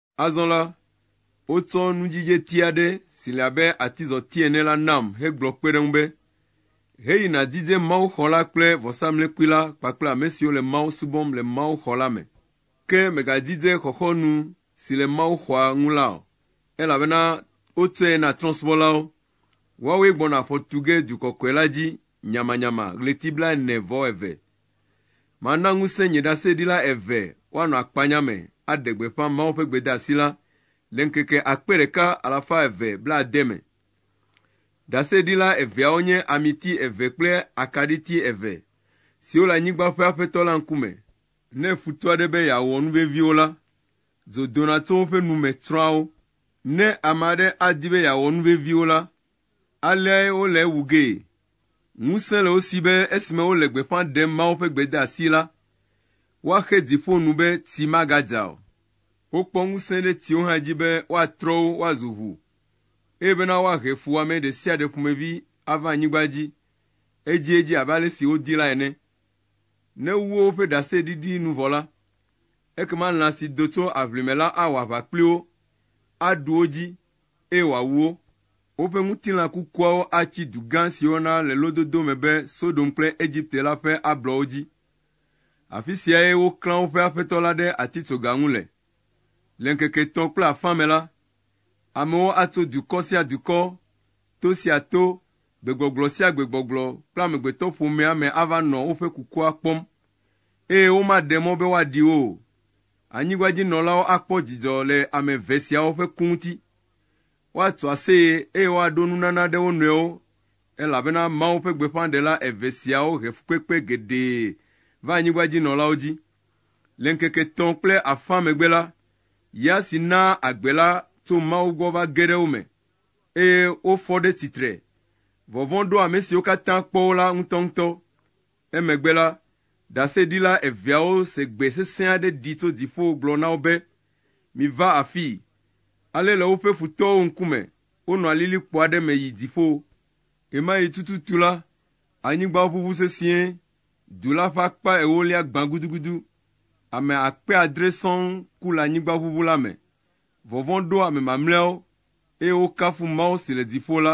[SPEAKER 1] Azɔ la, wotsɔ nudzidzeti aɖe si le abe atizɔti ene la nam hegblɔ kpe ɖe eŋu be, Heyi nàdidze mawuxɔ la kple vɔsamlekpui la kpakple ame siwo le Mawu subɔm le mawuxɔ la me. Ke mègadidze xɔxɔnu si le mawuxɔa ŋu la o, elabena wotsɔe na trɔ̃subɔlawo. Woawoe gbɔna afɔ tu ge du kɔkɔe la dzi nyamanyama ɣleti blaene-vɔ-eve. Mana ŋusẽ nye ɖaseɖila eve woanɔ akpanya me aɖe gbeƒã Mawu ƒe gbedeasi la le ŋkeke akpe ɖeka alafa eve blaade me. Ɖaseɖila eveawo nye amiti eve kple akaɖiti eve siwo le anyigba ƒe Aƒetɔ la ŋkume. Ne futɔ aɖe be yeawɔ nu vevi wo la, dzo dona tso woƒe nu me tsrɔ̃a wo. Ne ame aɖe adi be yeawɔ nu vevi wo la, Aleae wole ewu gee. Ŋusẽ le wo si be esime wole gbeƒã ɖem Mawu ƒe gbedeasi la, woaxe dzi ƒo nu be tsi magadza o. Wokpɔ ŋusẽ ɖe tsiwo hã dzi be woatrɔ wo woazu ʋu, eye bena woahe fuwɔame ɖe sia ɖe ƒomevi ava anyigba dzi edziedzi abe ale si wodi la ene. Ne wowu woƒe ɖaseɖiɖi nu vɔ la, ekema lã si do tso aʋlime la awɔ aʋa kpli wo, aɖu wo dzi, eye wòawu wo. Woƒe ŋutilã kukuawo atsi du gã siwo na le lododo me be Sodom kple Egipte la ƒe ablɔwo dzi. Afi siae woklã woƒe Aƒetɔ la ɖe atitsoga ŋu le. Le ŋkeke etɔ̃ kple afã me la, amewo atso dukɔ sia dukɔ, to sia to, gbegbɔgblɔ sia gbegbɔgblɔ kple amegbetɔƒomea me ava nɔ woƒe kukua kpɔm, eye womaɖe mɔ be woaɖi wo o. Anyigbadzinɔlawo akpɔ dzidzɔ le ame eve siawo ƒe ku ŋuti. Woatso aseye eye woaɖo nunana ɖe wo nɔewo, elabena Mawu ƒe gbeƒãɖela eve siawo he fukpekpe geɖe va anyigbadzinɔlawo dzi. Le ŋkeke etɔ̃ kple afã megbe la, ya si naa agbe la tso Mawu gbɔ va ge ɖe wo me, eye wofɔ ɖe tsitre. Vɔvɔ̃ ɖo ame siwo katã kpɔ wo la ŋutɔŋutɔ. Emegbe la, ɖaseɖila eveawo se gbe sesẽ aɖe ɖi tso dziƒo gblɔ na wo be, Miva afii! Ale le woƒe futɔwo ŋkume, wonɔ alilikpo aɖe me yi dziƒo. Ɣemaɣi tututu la, anyigba ʋuʋu sesĩe, du la ƒe akpa ewolia gbã gudugudu, ame akpe adre sɔŋ ku le anyigba ʋuʋu la me. Vɔvɔ̃ ɖo ame mamlɛawo, eye wokafu Mawu si le dziƒo la.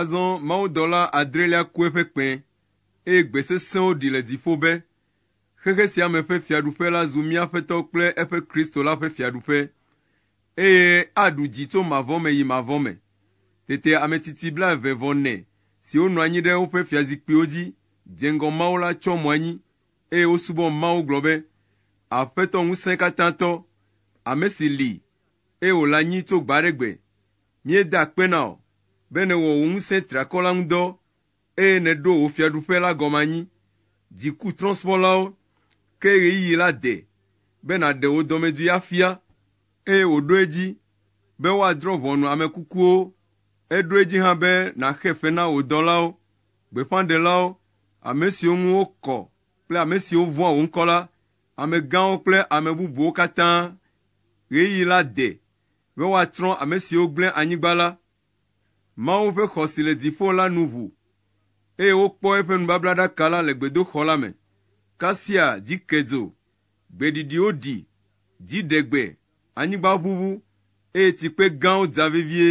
[SPEAKER 1] Azɔ mawudɔla adrelia ku eƒe kpẽ, eye gbe sesẽwo ɖi le dziƒo be, Xexe sia me ƒe fiaɖuƒe la zu mía Aƒetɔ kple eƒe Kristo la ƒe fiaɖuƒe, eye aɖu dzi tso mavɔ me yi mavɔ me. Tete ametsitsi blaeve vɔ nɛ siwo nɔ anyi ɖe woƒe fiazikpuiwo dzi dze ŋgɔ Mawu la tsyɔ mo anyi, eye wosubɔ Mawu gblɔ be, Aƒetɔ Ŋusẽkatãtɔ, ame si li, eye wòle anyi tso gbe aɖe gbe, Míeda akpe na wò be nèwɔ wò ŋusẽ triakɔ la ŋu dɔ eye nèɖo wò Fiaɖuƒe la gɔme anyi. Dzikutrɔ̃subɔlawo ke ɣeyiɣi la de be nàɖe wò dɔmedzoe afia, eye wòɖo edzi be woadrɔ̃ ʋɔnu ame kukuwo. Eɖo edzi hã be nàxe fe na wò dɔlawo, gbeƒãɖelawo, ame siwo ŋu wokɔ kple ame siwo vɔ̃a wò ŋkɔ la, amegãwo kple ame bubuwo katã. Ɣeyiɣi la de be woatsrɔ̃ ame siwo gblẽ anyigba la, Mawu ƒe xɔ si le dziƒo la nu ʋu, eye wokpɔ eƒe nubablaɖaka la le gbedoxɔ la me, kasia dzi ke dzo, gbe ɖiɖiwo ɖi, dzi ɖe gbe, anyigba ʋuʋu, eye tsikpe gãwo dza vevie.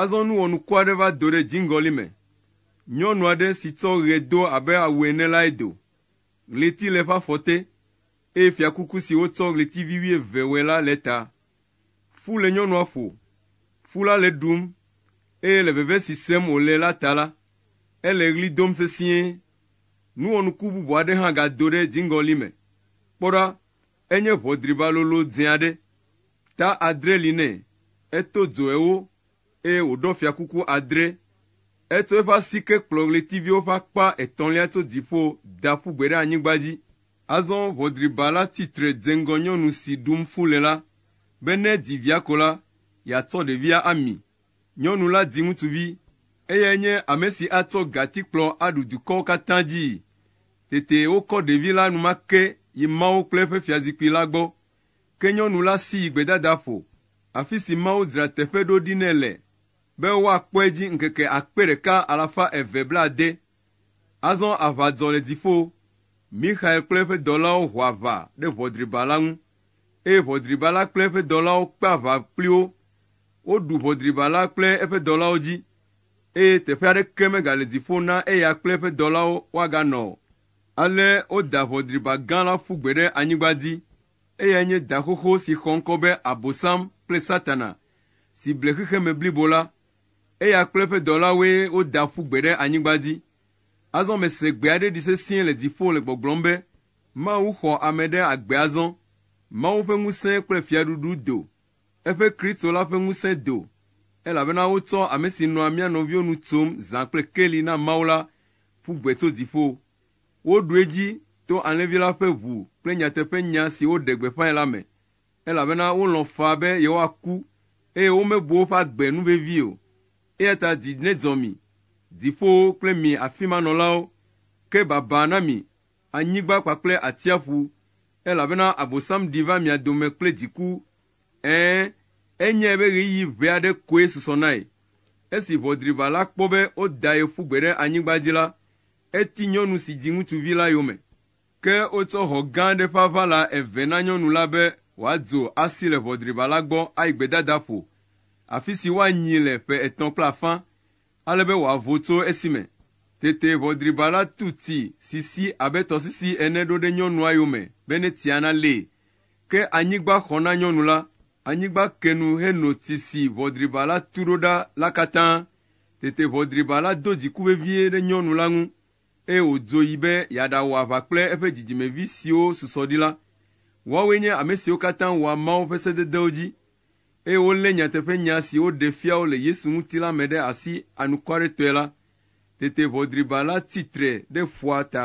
[SPEAKER 1] Azɔ nu wɔnuku aɖe va do ɖe dziŋgɔli me. Nyɔnu aɖe si tsɔ ɣe do abe awu ene lae do. Ɣleti le eƒe afɔ te, eye fiakuku si wotsɔ ɣletivi wuieve wɔe la le eta. Fu le nyɔnua ƒo, fu la le ɖum, eye le veve si sem wòle la ta la, ele ɣli dom sesĩe. Nu wɔnuku bubu aɖe hã gado ɖe dziŋgɔli me. Kpɔ ɖa! Enye ʋɔdriba lolo dzẽ aɖe. Ta adre li nɛ, eto dzoe wo, eye wòɖɔ fiakuku adre. Etsɔ eƒe asike kplɔ ɣletiviwo ƒe akpa etɔ̃lia tso dziƒo da ƒu gbe ɖe anyigba dzi. Azɔ ʋɔdriba la tsi tre dze ŋgɔ nyɔnu si ɖum fu le la, be ne edzi via ko la, yeatsɔ ɖevia ami. Nyɔnu la di ŋutsuvi. Eyae nye ame si atsɔ gatikplɔ aɖu dukɔwo katã dzii. Tete wokɔ ɖevi la enumake yi Mawu kple eƒe fiazikpui la gbɔ. Ke nyɔnu la si yi gbedadaƒo, afi si Mawu dzra teƒe ɖo ɖi nɛ le, be woakpɔe dzi ŋkeke akpe ɖeka alafa eve blaade. Azɔ aʋa dzɔ le dziƒo. Mixael kple eƒe dɔlawo ho aʋa ɖe ʋɔdriba la ŋu, eye ʋɔdriba la kple eƒe dɔlawo kpe aʋa kpli wo. Woɖu ʋɔdriba la kple eƒe dɔlawo dzi, eye teƒe aɖeke megale dziƒo na eya kple eƒe dɔlawo woaganɔ o. Ale woda ʋɔdriba gã la ƒu gbe ɖe anyigba dzi. Eyae nye da xoxo si xɔ ŋkɔ be Abosam kple Satana, si ble xexeme blibo la. Eya kple eƒe dɔlawoe woda ƒu gbe ɖe anyigba dzi. Azɔ mese gbe aɖe ɖi sesĩe le dziƒo le gbɔgblɔm be, Mawu xɔ ame ɖe agbe azɔ. Mawu ƒe ŋusẽ kple fiaɖuɖu do, eƒe Kristo la ƒe ŋusẽ do, elabena wotsɔ ame si nɔa mía nɔviwo nu tsom zã kple keli na Mawu la ƒu gbe tso dziƒo. Woɖu edzi to Alẽvi la ƒe ʋu kple nyateƒenya si woɖe gbeƒãe la me. elabena wolɔ̃ faa be yewoaku, eye womebu woƒe agbe nu vevii o. Eya ta dzi nedzɔ mi, dziƒowo kple mi afi ma nɔlawo, ke baba na mi, anyigba kpakple atsiaƒu, elabena Abosam ɖi va mia dome kple dziku, ɛ̃, enyae be ɣeyiɣi ʋɛ aɖe koe susɔ nae. Esi ʋɔdriʋa la kpɔ be woda ye ƒu gbe ɖe anyigba dzi la, eti nyɔnu si dzi ŋutsuvi la yome. Ke wotsɔ hɔ̃ gã aɖe ƒe aʋala eve na nyɔnu la be wòadzo asi le ʋɔdriba la gbɔ ayi gbedadaƒo, afi si woanyi le ƒe etɔ̃ kple afã, ale be wòavo tso esi me. Tete ʋɔdriba la tu ti si si abe tɔsisi ene ɖo ɖe nyɔnua yome be ne tsia nalée. Ke anyigba xɔ na nyɔnu la, anyigba ke nu heno ti si ʋɔdriba la tu ɖo ɖa la katã. Tete ʋɔdriba la do dziku vevie ɖe nyɔnu la ŋu eye wòdzo yi be yeaɖawɔ aʋa kple eƒe dzidzimevi siwo susɔ ɖi la. Woawoe nye ame siwo katã wɔa Mawu ƒe sededewo dzi, eye wolé nyateƒenya si woɖe fia wo le Yesu ŋuti la me ɖe asi anukwaretɔe la. Tete ʋɔdriba la tsi tre ɖe ƒua ta.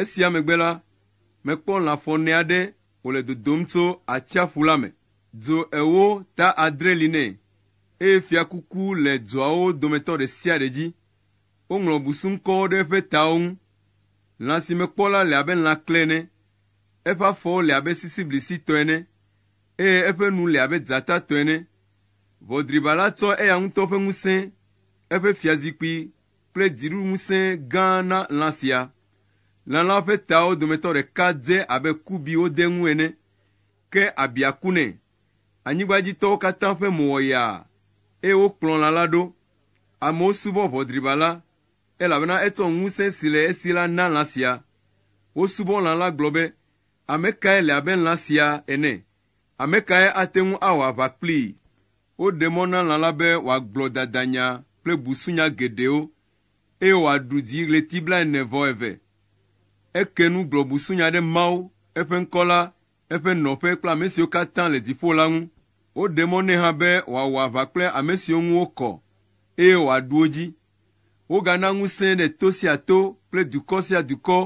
[SPEAKER 1] Esia megbe la, mekpɔ lã fɔne aɖe wòle dodom tso atsiaƒu la me. Dzo ewo ta adre li nɛ, eye fiakuku le dzoawo dometɔ ɖe sia ɖe dzi. Woŋlɔ busuŋkɔwo ɖe eƒe tawo ŋu. Lã si mekpɔ la le abe lãkle ene. Eƒe afɔwo le abe sisiblisi tɔ ene, eye eƒe nu le abe dzata tɔ ene. Ʋɔdriba la tsɔ eya ŋutɔ ƒe ŋusẽ, eƒe fiazikpui kple dziɖuɖuŋusẽ gã na lã sia. Lã la ƒe tawo dometɔ ɖeka dze abe kubi wode ŋu ene, ke abia ku nɛ. Anyigbadzitɔwo katã ƒe mo wɔ yaa, eye wokplɔ lã la ɖo. Amewo subɔ ʋɔdriba la, elabena etsɔ ŋusẽ si le esi la na lã sia. Wosubɔ lã la gblɔ be, Ame kae le abe lã sia ene? Ame kae ate ŋu awɔ aʋa kplii? Woɖe mɔ na lã la be wòagblɔ dadanya kple busunya geɖewo, eye wòaɖu dzi ɣleti blaene vɔ eve. Eke nu gblɔ busunya ɖe Mawu, eƒe ŋkɔ la, eƒe nɔƒe kple ame siwo katã le dziƒo la ŋu. Woɖe mɔ nɛ hã be wòawɔ aʋa kple ame siwo ŋu wokɔ, eye wòaɖu wo dzi. Wogana ŋusẽe ɖe to sia to kple dukɔ sia dukɔ,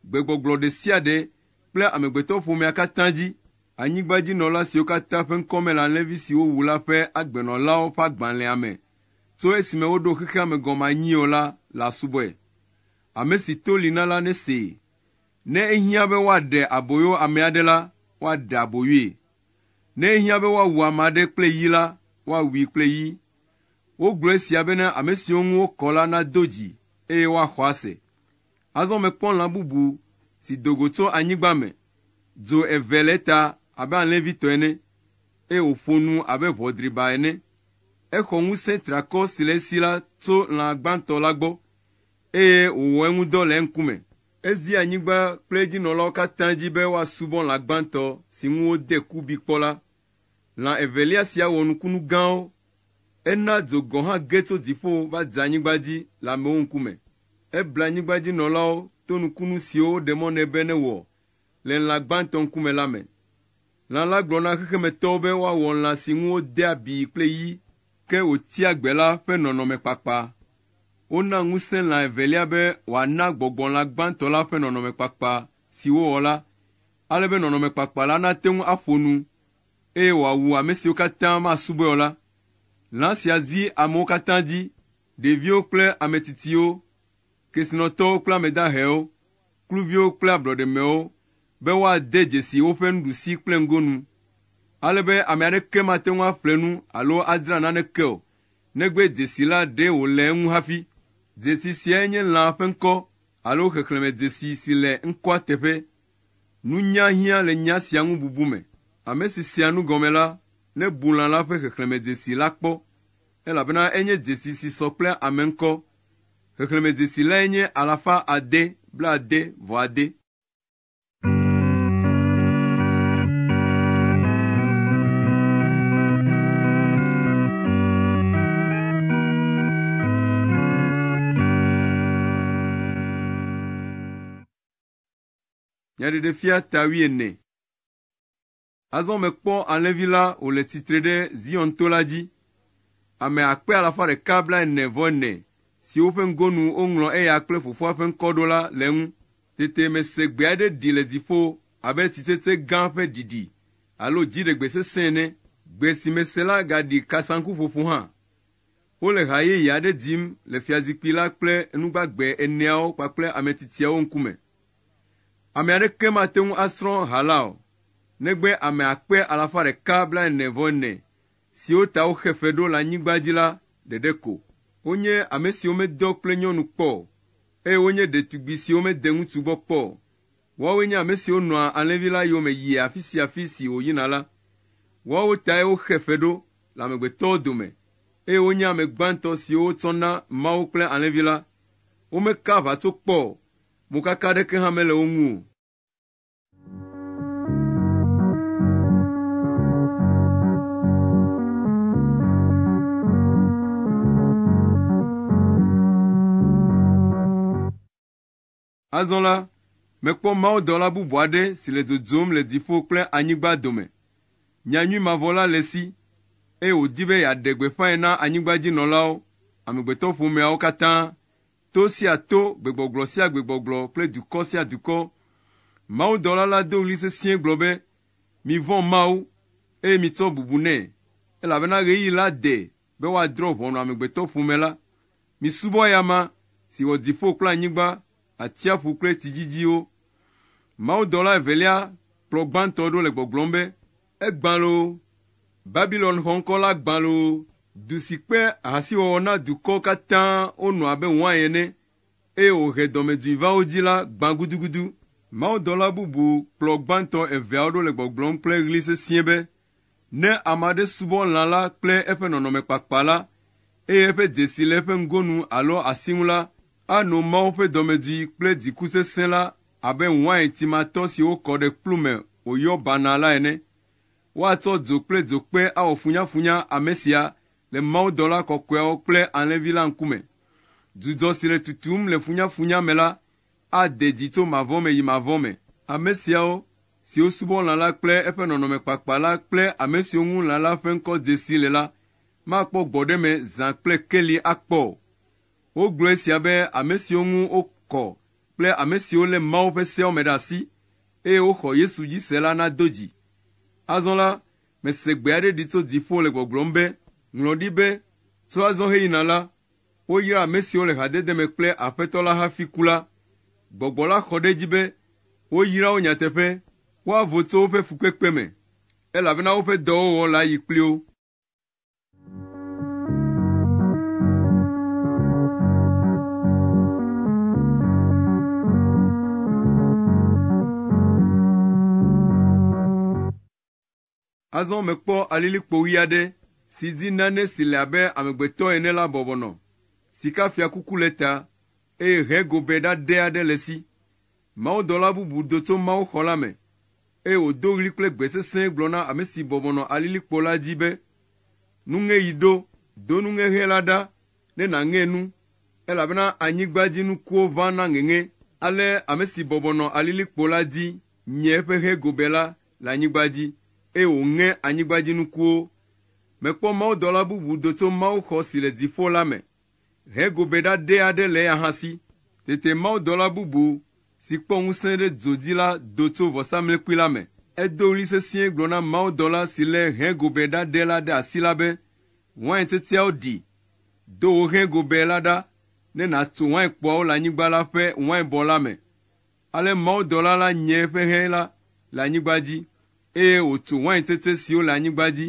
[SPEAKER 1] gbegbɔgblɔ ɖe sia ɖe kple amegbetɔƒomea katã dzi. Anyigbadzinɔla siwo katã ƒe ŋkɔ mele alẽvi si wowu la ƒe agbenɔlawo ƒe agbalẽa me tso esime woɖo xexea me gɔme anyi o la le asubɔe. Ame si to li na la nesee. Ne ehiã be woaɖe aboyo ame aɖe la, woaɖe aboyoe. Ne ehiã be woawu ame aɖe kple yi la, woawui kple yi. Wogblɔ esia bene ame siwo ŋu wokɔ la nado dzi, eye woaxɔ ase. Azɔ mekpɔ lã bubu si do go tso anyigba me. Dzo eve le eta abe alẽvi tɔ ene, eye wòƒo nu abe ʋɔ driba ene. Exɔ ŋusẽ triakɔ si le esi la tso lã gbãtɔ la gbɔ, eye wòwɔ eŋu dɔ le eŋkume. Ezi anyigba kple edzinɔlawo katã dzi be woasubɔ lã gbãtɔ si ŋu wode kubi kpɔ la. Lã evelia sia wɔ nukunu gãwo. Ena dzo gɔ̃ hã ge tso dziƒo va dze anyigba dzi le amewo ŋkume. Ebla anyigbadzinɔlawo to nukunu siwo woɖe mɔ nɛ be newɔ le lã gbãtɔ ŋkume la me. Lã la gblɔ na xexemetɔwo be woawɔ lã si ŋu wode abi kple yi, ke wòtia gbe la ƒe nɔnɔme kpakpa. Wona ŋusẽ lã evelia be wòana gbɔgbɔ lã gbãtɔ la ƒe nɔnɔme kpakpa si wowɔ la ale be nɔnɔmekpakpa la nate ŋu aƒo nu, eye wòawu ame siwo katã masubɔe o la. Lã sia zi amewo katã dzi, ɖeviwo kple ame tsitsiwo, kesinɔtɔwo kple ame dahewo, kluviwo kple ablɔɖemewo, be woade dzesi woƒe nuɖusi kple ŋgonu, ale be ame aɖeke mate ŋu aƒle nu alo adzra naneke o, negbe dzesi la ɖee wòle eŋu hafi. Dzesi siae nye lãa ƒe ŋkɔ alo xexlẽmedzesi si le ŋkɔa teƒe. Nunya hiã le nya sia ŋu bubu me. Ame si sea nu gɔme la, nebu lã la ƒe xexlẽmedzesi la kpɔ, elabena enye dzesi si sɔ kple ame ŋkɔ. Xexlẽmedzesi lae nye alafa ade blaade vɔ ade. Nyaɖeɖefia ta wuiene. Azɔ mekpɔ alẽvi la wòle tsitre ɖe Zion to la dzi. Ame akpe alafa ɖeka blaene vɔ ene siwo ƒe ŋgonu woŋlɔ eya kple fofoa ƒe ŋkɔ ɖo la le eŋu. Tete mese gbe aɖe ɖi le dziƒo abe tsitsetse gã ƒe ɖiɖi alo dziɖegbe sesẽ ene. Gbe si mese la gaɖi kasaŋkuƒoƒo hã. Wole ha yeye aɖe dim le fiazikpui la kple enu gbagbe eneawo kpakple ame tsitsiawo ŋkume. Ame aɖeke mate ŋu asrɔ̃ ha la o, negbe ame akpe alafa ɖeka blaene-vɔ-ene siwo ta woxe fe ɖo le anyigba dzi la ɖeɖe ko. Wonye ame siwo medɔ kple nyɔnu kpɔ o, eye wonye ɖetugbui siwo mede ŋutsu gbɔ kpɔ o, Woawoe nye ame siwo nɔa alẽvi la yome yia afi sia afi si wòyina la. Woawo tae woxe fe ɖo le amegbetɔwo dome, eye wonye ame gbãtɔ siwo wotsɔ na Mawu kple alẽvi la. Womeka aʋatso kpɔ o, mokaka aɖeke hã mele wo ŋu o. Azɔ la, mekpɔ mawudɔla bubu aɖe si le dzodzom le dziƒo kple anyigba dome. Nyanyui mavɔ la le esi, eye wòdi be yeaɖe gbeƒãe na anyigbadzinɔlawo, amegbetɔƒomeawo katã, to sia to, gbegbɔgblɔ sia gbegbɔgblɔ kple dukɔ sia dukɔ. Mawudɔla la do ɣli sesĩe gblɔ be, Mivɔ̃ Mawu, eye mitsɔ bubu nɛ, elabena ɣeyiɣi la de, be woadrɔ̃ ʋɔnu amegbetɔƒomea la, misubɔ eya ma, si wɔ dziƒo kple anyigba, atsiaƒu kple tsi dzidziwo. Mawudɔla evelia kplɔ gbãtɔ ɖo le gbɔgblɔm be, Egbã loo! Babilon xɔŋkɔ la gbã loo! Du si kpe ahasiwɔwɔ na dukɔ katã wònɔ abe wain ene, eye wòhe dɔmedzoe va wo dzi la gbã gudugudu. Mawudɔla bubu kplɔ gbãtɔ eveawo ɖo le gbɔgblɔm kple ɣli sesĩe be, Ne ame aɖe subɔ lã la kple eƒe nɔnɔme kpakpa la, eye eƒe dzesi le eƒe ŋgonu alo asi ŋu la, ano Mawu ƒe dɔmedzoe kple dziku sesẽ la abe wain timatɔ si wokɔ ɖe kplu me wòyɔ banaa la ene. Woatsɔ dzo kple dzokpe awɔ funyafunya ame sia le mawudɔla kɔkɔeawo kple alẽvi la ŋkume. Dzudzɔ si le tutum le funyafunya me la ade dzi tso mavɔ me yi mavɔ me. Ame siawo, siwo subɔ lã la kple eƒe nɔnɔme kpakpa la kple ame siwo ŋu lã la ƒe ŋkɔ de si le la, makpɔ gbɔɖeme zã kple keli akpɔ o. Wogblɔ esia be ame siwo ŋu wokɔ kple ame siwo lé Mawu ƒe seawo me ɖe asi, eye woxɔ Yesu dzi se la nado dzi. Azɔ la, mese gbe aɖe ɖi tso dziƒo le gbɔgblɔm be, Ŋlɔ ɖi be, Tso azɔ heyina la, woyra ame siwo le hadede me kple Aƒetɔ la hafi ku la. Gbɔgbɔ la xɔ ɖe edzi be woyra wo nyateƒe, woavo tso woƒe fukpekpe me, elabena woƒe dɔwɔwɔ le ayi kpli wo. Azɔ mekpɔ alilikpo ɣi aɖe si dzi nane si le abe amegbetɔ ene la bɔbɔ nɔ. Sikafiakuku le eta, eye ʋe gobe ɖaɖɛ aɖe le esi. Mawudɔla bubu do tso mawuxɔ la me, eye wòdo ɣli kple gbe sesẽ gblɔ na ame si bɔbɔ nɔ alilikpo la dzi be, Nuŋeɣi ɖo! Do nuŋeɣe la ɖa ne nàŋe nu, elabena anyigba dzi nukuwo ʋã na ŋeŋe. Ale ame si bɔbɔ nɔ alilikpo la dzi nye eƒe ʋe gobe la le anyigba dzi, eye wòŋe anyigbadzinukuwo. Mekpɔ mawudɔla bubu do tso mawuxɔ si le dziƒo la me hego be ɖaɖɛ aɖe le eya hã si. Tete mawudɔla bubu si kpɔ ŋusẽ ɖe dzo dzi la do tso vɔsamlekpui la me. Edo ɣli sesĩe gblɔ na mawudɔla si lé hegobɛ ɖaɖɛ la ɖe asi la be, Wain tsetseawo ɖi! Do wò hegobɛ la ɖa ne nàtso wainkpoawo le anyigba la ƒe wainbɔ la me. Ale mawudɔla la nye eƒe hɛ la le anyigba dzi, eye wòtso wain tsetse siwo le anyigba dzi,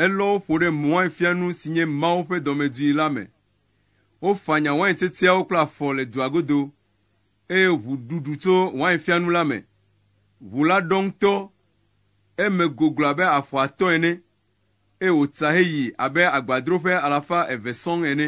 [SPEAKER 1] elɔ wo ƒo ɖe wainfianu si nye Mawu ƒe dɔmedzoe la me. Wofanya wain tsetseawo kple afɔ le dua godo, eye ʋu ɖuɖu tso wainfianu la me. Ʋu la ɖɔ ŋutɔ, eme goglo abe afɔ atɔ̃ ene, eye wòtsa heyi abe agbadroƒe alafa eve sɔŋ ene.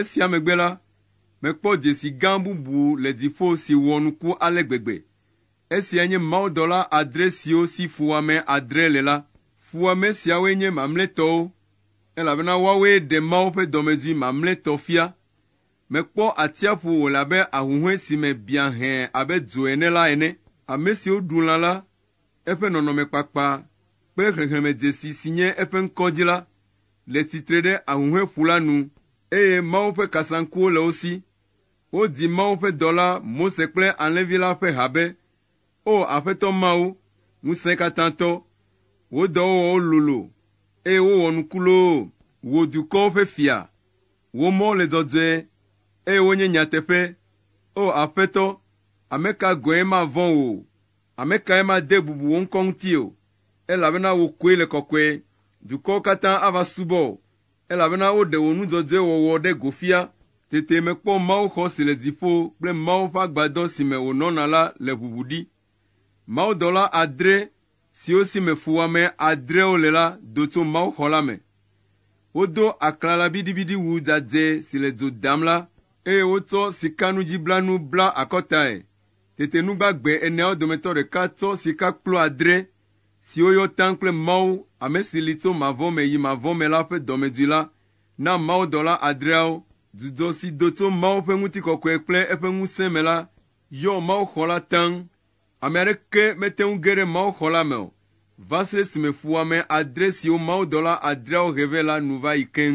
[SPEAKER 1] Esia megbe la, mekpɔ dzesi gã bubu le dziƒo si wɔ nuku ale gbegbe. Esiae nye mawudɔla adre siwo si fuwɔame adre le la. Fuwɔame siawoe nye mamlɛtɔwo, elabena woawoe ɖe Mawu ƒe dɔmedzoe mamlɛtɔ fia. Mekpɔ atsiaƒu wòle abe ahuhɔ̃e si me biã hẽ abe dzo ene la ene. Ame siwo ɖu lã la Eƒe nɔnɔmekpakpa kple xexemedzesi si nye eƒe ŋkɔ dzi la le tsitre ɖe Ahuhɔ̃eƒu la nu, eye Mawu ƒe kasaŋkuwo le wo si. Wodi Mawu ƒe dɔla Mose kple Alẽvi la ƒe ha be, O Aƒetɔ Mawu, Ŋusẽkatãtɔ, wò dɔwɔwɔwo lolo, eye wowɔ nuku loo! Wò dukɔwo ƒe Fia, wò mɔwo le dzɔdzɔe, eye wonye nyateƒe. O Aƒetɔ, ame ka gɔ̃e mavɔ̃ wò? Ame kae made bubu wò ŋkɔ ŋuti o? Elabena wò koe le kɔkɔe. Dukɔwo katã ava subɔ wò. Elabena woɖe wò nu dzɔdzɔe wɔwɔ ɖe go fia. Tete mekpɔ mawuxɔ si le dziƒo kple Mawu ƒe agbadɔ si me wònɔna la le ʋuʋu ɖi. Mawudɔla adre, siwo si me fuwɔame adreawo le la do tso mawuxɔ la me. Wodo aklalabiɖibiɖiwu dzadzɛ si le dzo dam la, eye wotsɔ sikanudziblanu bla akɔtae Tete nu gbagbe eneawo dometɔ ɖeka tsɔ sikakplu adre, siwo yɔ taŋ kple Mawu, ame si li tso mavɔ me yi mavɔ me la ƒe dɔmedzoe la, na mawudɔla adreawo. Dzudzɔ si do tso Mawu ƒe ŋutikɔkɔe kple eƒe ŋusẽ me la yɔ mawuxɔ la taŋ. Ame aɖeke mete ŋu ge ɖe mawuxɔ la me o va se ɖe esime fuwɔame adre siwo mawudɔla adreawo he vɛ la nu va yi keŋ.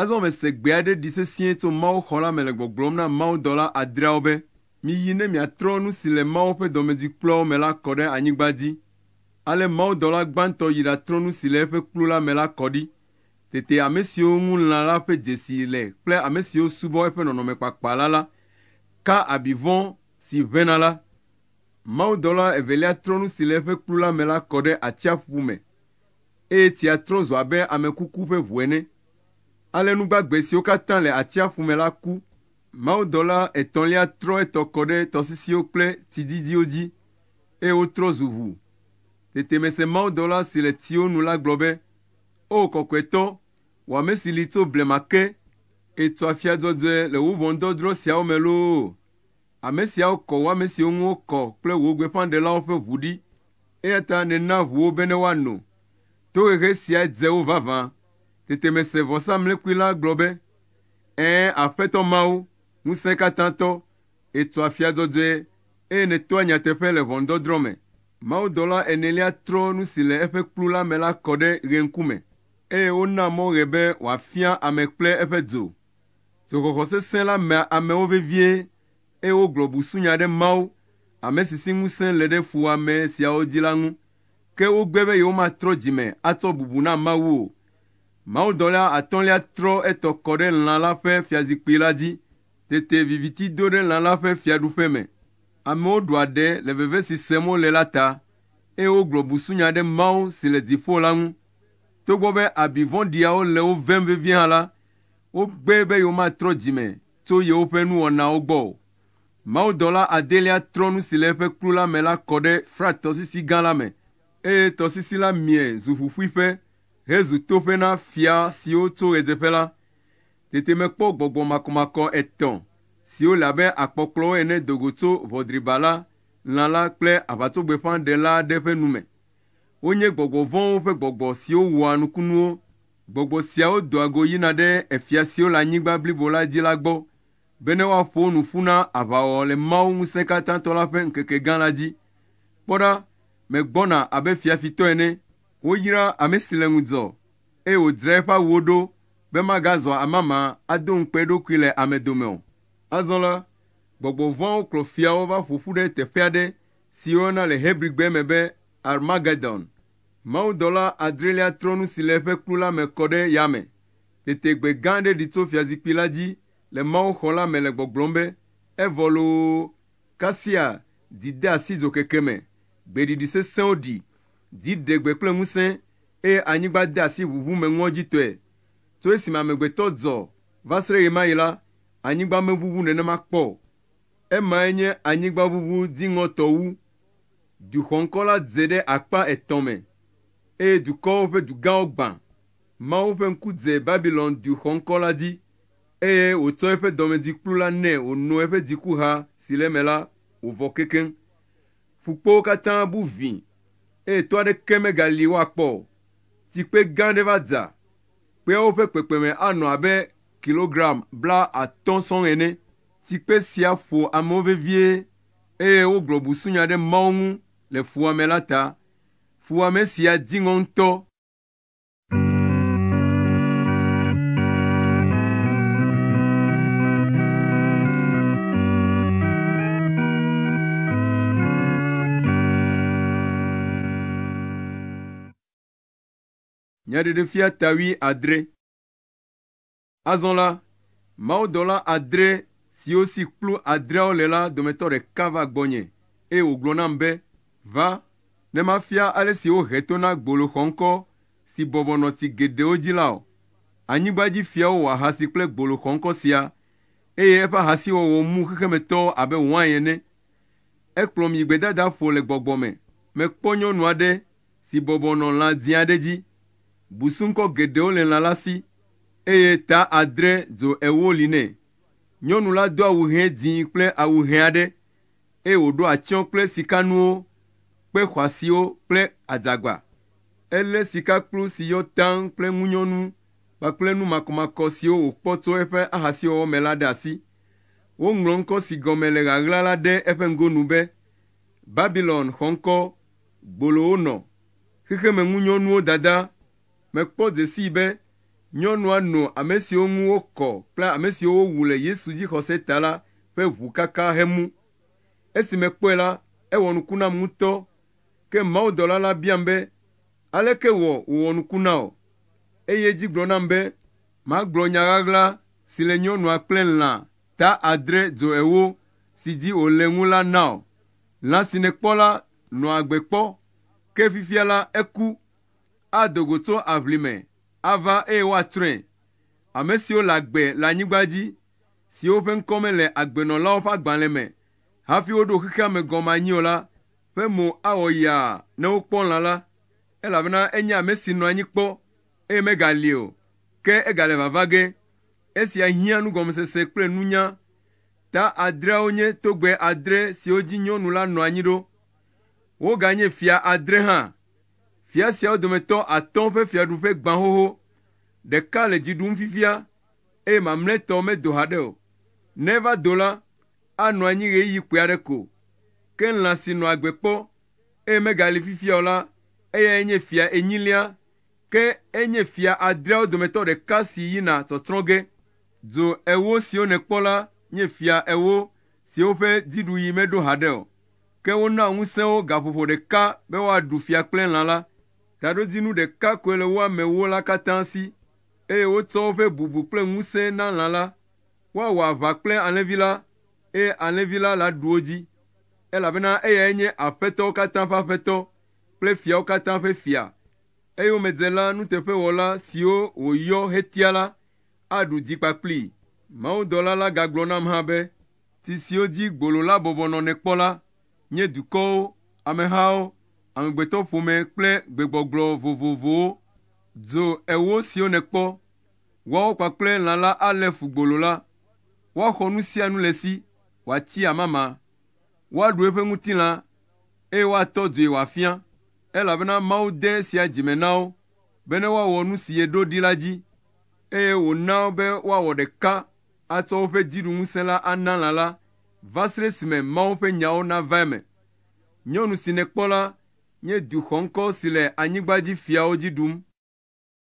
[SPEAKER 1] Azɔ mese gbe aɖe ɖi sesĩe tso Mawuxɔ la me le gbɔgblɔm na mawudɔla adreawo be, Miyi ne miatrɔ nu si le Mawu ƒe dɔmedzoe kpluawo me la kɔ ɖe anyigba dzi. Ale mawudɔla gbãtɔ yi ɖatrɔ nu si le eƒe kplu la me la kɔ ɖi. Tete ame siwo ŋu lã la ƒe dzesi le kple ame siwo subɔ eƒe nɔnɔme kpakpa la la ka abi vɔ̃ si ʋẽna la. Mawudɔla evelia trɔ nu si le eƒe kplu la me la kɔ ɖe atsiaƒu me. eye tsia trɔ zu abe ame kuku ƒe ʋu ene. Ale nu gbagbe siwo katã le atsiaƒu me la ku. Mawudɔla etɔ̃lia trɔ etɔ kɔ ɖe tɔsisiwo kple tsi didiwo dzi, eye wotrɔ zu ʋu. Tete mese mawudɔla si le tsiwo nu la gblɔ be, Oo Kɔkɔetɔ, wò ame si li tso blema ke, ètua fia dzɔdzɔe le wò ʋɔndɔdrɔ̃ siawo me loo! Ame siawo kɔ wò ame siwo ŋu wokɔ kple wò gbeƒãɖelawo ƒe ʋu ɖi, eya ta nèna ʋu wo bene woano. Tohehe siae dze wo vavã. Tete mese vɔsamlekpui la gblɔ be, Ẽ, Aƒetɔ Mawu, Ŋusẽkatãtɔ, ètua afia dzɔdzɔe, eye nètoa nyateƒe le ʋɔnudɔdrɔ̃ me. Mawudɔla enelia trɔ nu si le eƒe kplu la me la kɔ ɖe ɣeŋkume, eye wona mɔ ɣe be wòafia ame kple eƒe dzo. Tso xɔxɔ sesẽ la mea amewo vevie, eye wogblɔ busunya ɖe Mawu, ame si si ŋusẽ le ɖe fuwɔame siawo dzi la ŋu. Ke wogbe be yewomatrɔ dzi me atsɔ bubu na Mawu o. Mawudɔla atɔ̃lia trɔ etɔ kɔ ɖe lã la ƒe fiazikpui la dzi. Tete viviti do ɖe lã la ƒe fiaɖuƒe me. Amewo ɖu aɖe le veve si sem wole la ta, eye wogblɔ busunya ɖe Mawu si le dziƒo la ŋu. Togbɔ be abi vɔ̃ɖiawo le wo vem vevie hã la, wogbee be yewomatrɔ dzi me tso yewoƒe nuwɔnawo gbɔ o. Mawudɔla adelia trɔ nu si le eƒe kplu la me la kɔ ɖe Frat Tɔsisi Gã la me, eye tɔsisi la mie zu ƒuƒuiƒe hezu toƒe na fia siwo tso ɣedzeƒe la. Tete mekpɔ gbɔgbɔ makɔmakɔ etɔ̃ siwo le abe akpɔkplɔwo ene do go tso ʋɔdribala, lã la, kple aʋatsogbefã ɖela aɖe ƒe nu me. Wonye gbɔgbɔ vɔ̃wo ƒe gbɔgbɔ siwo wɔa nukunuwo. Gbɔgbɔ siawo doa go yina ɖe efia siwo le anyigba blibo la dzi la gbɔ bene woaƒo nu ƒu na aʋawɔwɔ le Mawu Ŋusẽkatãtɔ la ƒe ŋkeke gã la dzi. Kpɔ ɖa, megbɔna abe fiafitɔ ene! Woyra ame si le ŋudzɔ, eye wòdzra eƒe awuwo ɖo be magazɔ amama ado ŋukpe eɖokui le ame dome o. Azɔ la, gbɔgbɔ vɔ̃awo kplɔ fiawo va ƒo ƒu ɖe teƒe aɖe si woyɔna le Hebrigbe me be Armagedon Mawudɔla adrelia trɔ nu si le eƒe kplu la me kɔ ɖe yame. Tete gbe gã aɖe ɖi tso fiazikpui la dzi le mawuxɔ la me le gbɔgblɔm be, Evɔ loo! Kasia dzi de asi dzokeke me, gbeɖiɖi sesẽwo ɖi, dzi ɖe gbe kple ŋusẽ, eye anyigba de asi ʋuʋu me ŋɔdzitɔe. Tso esime amegbetɔ dzɔ va se ɖe ɣemaɣi la, anyigba meʋuʋu nenema kpɔ o. Emae nye anyigbaʋuʋu dziŋɔtɔ wu. Du xɔŋkɔ la dze ɖe akpa etɔ̃ me, eye dukɔwo ƒe dugãwo gbã. Mawu ƒe ŋku dze Babilon du xɔŋkɔ la dzi, eye wòtsɔ eƒe dɔmedzikplu la nɛ wòno eƒe dzikuha si le eme la wòvɔ kekeŋ. Ƒukpowo katã bu vĩ, eye to aɖeke megali woakpɔ o. Tsikpe gã aɖe va dza, kpeawo ƒe kpekpeme anɔ abe kilogram blaatɔ̃ sɔŋ ene. Tsikpe sia ƒo amewo vevie eye wogblɔ busunya ɖe Mawu ŋu le fuwɔame la ta. Fuwɔame sia di ŋɔ ŋutɔ. Nyaɖeɖefia ta wuiadre. Azɔ la, mawudɔla adre siwo si kplu adreawo le la dometɔ ɖeka va gbɔnye, eye wògblɔ nam be, Va, ne mafia ale si wohe to na gbolo xɔŋkɔ si bɔbɔ nɔ ti geɖewo dzi la wò. Anyigba dzi fiawo wɔ ahasi kple gbolo xɔŋkɔ sia, eye eƒe ahasiwɔwɔ mu xexemetɔwo abe wain ene. Ekplɔm yi gbedadaƒo le gbɔgbɔ me. Mekpɔ nyɔnu aɖe si bɔbɔ nɔ lã dzĩ aɖe dzi. Busuŋkɔ geɖewo le lã la si, eye ta adre dzo ewo li nɛ. Nyɔnu la do awu ʋɛ dzĩ kple awu ʋɛ aɖe, eye wòɖo atsyɔ̃ kple sikanuwo, kpe xɔasiwo kple adzagba. Elé sikakplu si yɔ taŋ kple ŋunyɔnu kpakple nu makɔmakɔ siwo wòkpɔ tso eƒe ahasiwɔwɔ me la ɖe asi. Woŋlɔ ŋkɔ si gɔme le ɣaɣla la ɖe eƒe ŋgonu be, Babilon Xɔŋkɔ gbolowo nɔ xexemeŋunyɔnuwo dada me kpɔ dzesii be nyɔnua no ame siwo ŋu wokɔ kple ame siwo wowu le Yesu dzixɔse ta la ƒe ʋu kakaa hemu. Esi mekpɔe la, ewɔ nuku nam ŋutɔ. Ke mawudɔla la biam be, Aleke wɔ wòwɔ nuku na wò? Eye edzi gblɔ nam be magblɔ nya ɣaɣla si le nyɔnua kple lã ta adre dzo ewo si dzi wòle ŋu la na o. Lã si nèkpɔ la nɔa agbe kpɔ, ke fifia la eku. Ado go tso aʋli me ava eye woatsrɔ̃e. Ame siwo le agbe le anyigba dzi, siwo ƒe ŋkɔ mele agbenɔlawo ƒe agbalẽ me hafi woɖo xexea me gɔme anyi o la ƒe mo awɔ yaa ne wokpɔ lã la, elabena enye ame si nɔ anyi kpɔ eye megali o, ke egale vava ge. Esia hiã nugɔmesese kple nunya. Ta adreawo nye togbɛ adre siwo dzi nyɔnu la nɔ anyi ɖo. Woganye fia adre hã. Fia siawo dometɔ atɔ̃ ƒe fiaɖuƒe gbã xoxo. Ɖeka le dzi ɖum fifia, eye mamlɛtɔ medo haɖe o. Ne eva do la, anɔ anyi ɣeyiɣi kpui aɖe ko. Ke lã si nɔa agbe kpɔ, eye megali fifia o la, eyae nye fia enyilia Ke enye fia adreawo dometɔ ɖeka si yina tsɔtsrɔ̃ ge. Dzo ewo siwo nèkpɔ la nye fia ewo siwo ƒe dziɖuɣi meɖo haɖe o. Ke wona ŋusẽ wo gaƒoƒo ɖeka be woaɖu fia kple lã la. Taɖodzinu ɖeka koe le wo amewo la katã si, eye wotsɔ woƒe bubu kple ŋusẽ na lã la. Woawɔ aʋa kple alẽvi la, eye alẽvi la laɖu wo dzi, elabena eyae nye aƒetɔwo katã ƒe Aƒetɔ kple fiawo katã ƒe Fia. Eyomedzela nuteƒewɔla siwo wòyɔ hetia la aɖu dzi kpakplii. Mawudɔla la gagblɔ nam hã be, Ti siwo dzi gbolo la bɔbɔ nɔ nèkpɔ la nye dukɔwo, amehawo, amegbetɔƒome kple gbegbɔgblɔ vovovowo. Dzo ewo siwo nèkpɔ, woawo kpakple lã la alé fu gbolo la. Woaxɔ nu sia nu le esi, wòatsi amama, woaɖu eƒe ŋutilã, eye woatɔ due wòafia, elabena Mawu de esia dzi me na wo be ne woawɔ nu si yeɖo ɖi la dzi, eye wòna be woawɔ ɖeka atsɔ woƒe dziɖuŋusẽ la ana lã la, va srɛ esime Mawu ƒe nyawo nava eme. Nyɔnu si nèkpɔ la nye du xɔŋkɔ si le anyigba dzi fiawo dzi ɖum.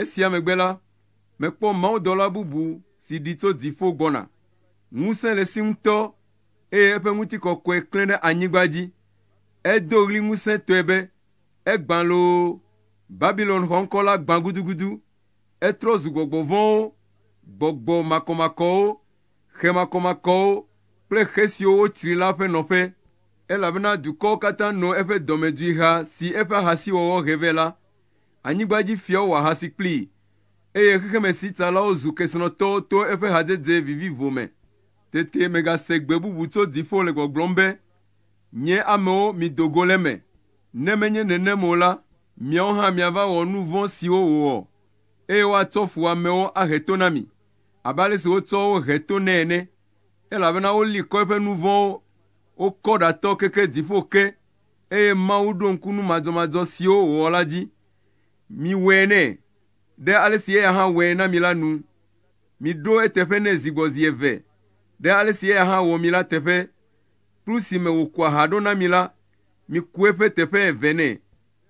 [SPEAKER 1] Esia megbe la, mekpɔ mawudɔla bubu si ɖi tso dziƒo gbɔna. Ŋusẽ le esi ŋutɔ, eye eƒe ŋutikɔkɔe klẽ ɖe anyigba dzi. Edo ɣli ŋusẽtɔe be, Egbã loo! Babilon xɔŋkɔ la gbã gudugudu! Etrɔ zu gbɔgbɔ vɔ̃wo, gbɔgbɔ makɔmakɔwo, xe makɔmakɔwo kple xe siwo wotsri la ƒe nɔƒe, elabena dukɔwo katã no eƒe dɔmedzoeha si eƒe ahasiwɔwɔ he vɛ la. Anyigbadzifiawo wɔ ahasi kplii, eye xexemesitsalawo zu kesinɔtɔwo to eƒe hadzedze vivivo me. Tete megase gbe bubu tso dziƒo le gbɔgblɔm be, Nye amewo, mido go le eme, ne menye nenem o la, miawo hã miava wɔ nu vɔ̃ siwo wòwɔ, eye woatsɔ fuwɔamewo ahe to na mi, abe ale si wotsɔ wo he to nɛ ene, elabena woli kɔ eƒe nu vɔ̃wo, wokɔ ɖatɔ keke dziƒo ke. eye Mawu ɖo ŋku nu madzɔmadzɔ siwo wòwɔ la dzi. Miwɔe nɛ, ɖe ale si eya hã wɔe na mi la nu. Miɖo eteƒe nɛ zi gbɔ zi eve, ɖe ale si eya hã wɔ mi la teƒe. Kplu si me wòkua ha ɖo na mi la, miku eƒe teƒe eve nɛ.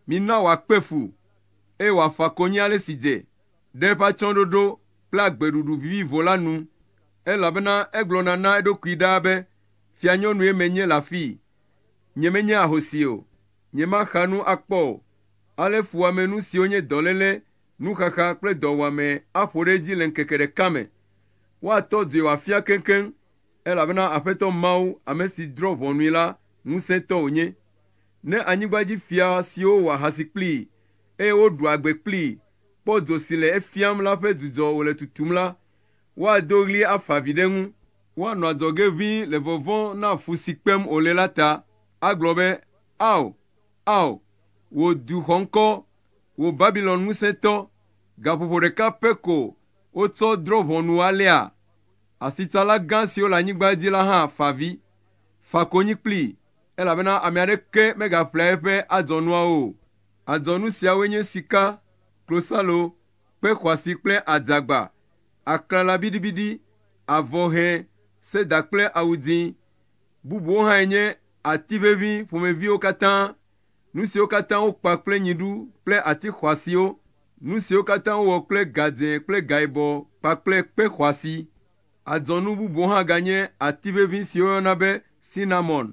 [SPEAKER 1] Mina wòakpe fu, eye wòafa konyi ale si dze ɖe eƒe atsyɔ̃ɖoɖo kple agbeɖuɖu vivivo la nu, elabena egblɔna na eɖokui ɖaa be, Fianyɔnue menye le afii, Nyemenye ahosi o, nyemaxa nu akpɔ o, ale fuwɔamenu siwo nye dɔléle, nuxaxa kple dɔwuame aƒo ɖe edzi le ŋkeke ɖeka me. Woatɔ dzoe wòafia keŋkeŋ, elabena Aƒetɔ Mawu, ame si drɔ̃ ʋɔnui la, ŋusẽtɔ wònye. Ne anyigba dzi fia siwo wɔ ahasi kplii, eye woɖu agbe kplii, kpɔ dzo si le efiam la ƒe dzudzɔ wòle tutum la, woado ɣli afa avi ɖe eŋu. Woanɔ adzɔge ʋĩi le vɔvɔ̃ na fu si kpem wòle la ta, agblɔ be, Ao! Ao! Wò du xɔŋkɔ, wò Babilon ŋusẽtɔ, gaƒoƒo ɖeka pɛ ko wotsɔ drɔ̃ ʋɔnu alea? Asitsala gã siwo le anyigba dzi la hã fa avi. Fa konyi kplii, elabena ame aɖeke megaƒlea eƒe adzɔnuawo o. Adzɔnu siawoe nye sika, klosalo, kpe xɔasi kple adzagba. aklala biɖibiɖi, avɔ ʋɛ, seda kple awu dzĩ. Bubuwo hãe nye ati ʋeʋĩ ƒomeviwo katã, nu siwo katã wokpa kple nyiɖu kple ati xɔasiwo, nu siwo katã wowɔ kple gadzẽ kple gayibɔ kpakple kpe xɔasi. Adzɔnu bubuwo hã ganye ati ʋeʋĩ si woyɔna be sinamon,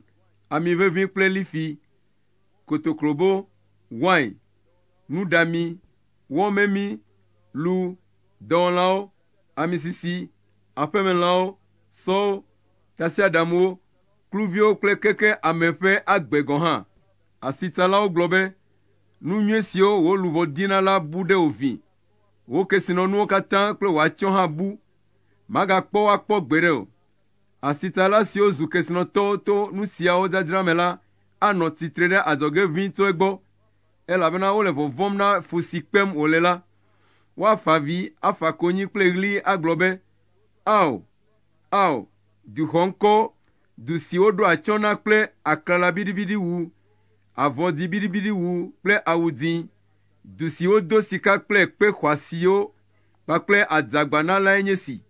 [SPEAKER 1] ami ʋeʋĩ kple lifi, kotoklobo, wain, nuɖami, wɔ memi, lu, dɔwɔlawo, amisisi, aƒemelãwo, sɔwo, tasiaɖamwo, kluviwo kple keke ame ƒe agbe gɔ̃ hã. Asitsalawo gblɔ be, Nu nyui siwo wò luʋɔ dina la bu ɖe wò vi. Wò kesinɔnuwo katã kple wò atsyɔ̃ hã bu. Magakpɔ wo akpɔ gbeɖe o. Asitsala siwo zu kesinɔtɔwo to nu siawo dzadzra me la anɔ tsitre ɖe adzɔge ʋĩi tso egbɔ. elabena wole vɔvɔ̃m na fu si kpem wòle la. Woafa avi, afa konyi kple ɣli agblɔ be, Ao! Ao! Du xɔŋkɔ, du si woɖo atsyɔ̃ na kple aklala biɖibiɖiwu, avɔ dzĩ biɖibiɖiwu kple awu dzĩ, du si wodo sika kple kpe xɔasiwo kpakple adzagba na lae nye si!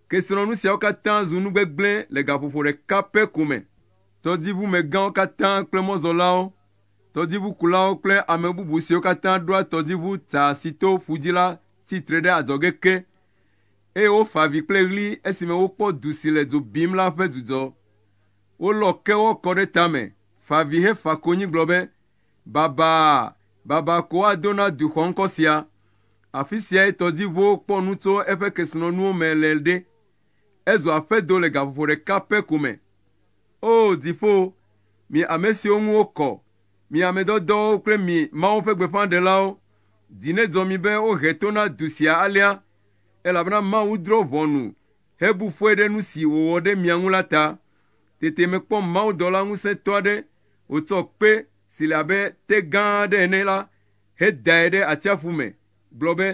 [SPEAKER 1] Kesinɔnu siawo katã zu nu gbegblẽ le gaƒoƒo ɖeka pɛ ko me. Tɔdziʋumegãwo katã kple mɔzɔlawo Tɔdziʋukulawo kple ame bubu siwo katã ɖoa tɔdziʋu ta si to ƒu dzi la tsi tre ɖe adzɔge ke, eye wofa avi kple ɣli esime wokpɔ du si le dzo bim la ƒe dzudzɔ. Wolɔ kewɔ kɔ ɖe tame, fa avi hefa konyi gblɔ be, Babaa! Babaa ko woado na du xɔŋkɔ sia! Afi siae tɔdziʋuwo kpɔ nu tso eƒe kesinɔnuwo me le ɖe. Ezu aƒedo le gaƒoƒo ɖeka pɛ ko me. O dziƒo, mi ame siwo ŋu wokɔ, mi ame dɔdɔwo kple mi Mawu ƒe gbeƒãɖelawo. Dzi nedzɔ mi be wohe to na du sia alea, elabena Mawu drɔ̃ ʋɔnu hebu fɔe ɖe nu si wòwɔ ɖe mia ŋu la ta. Tete mekpɔ mawudɔla ŋusẽtɔ aɖe wòtsɔ kpe si le abe te gã aɖe ene la hedae ɖe atsiaƒu me gblɔ be,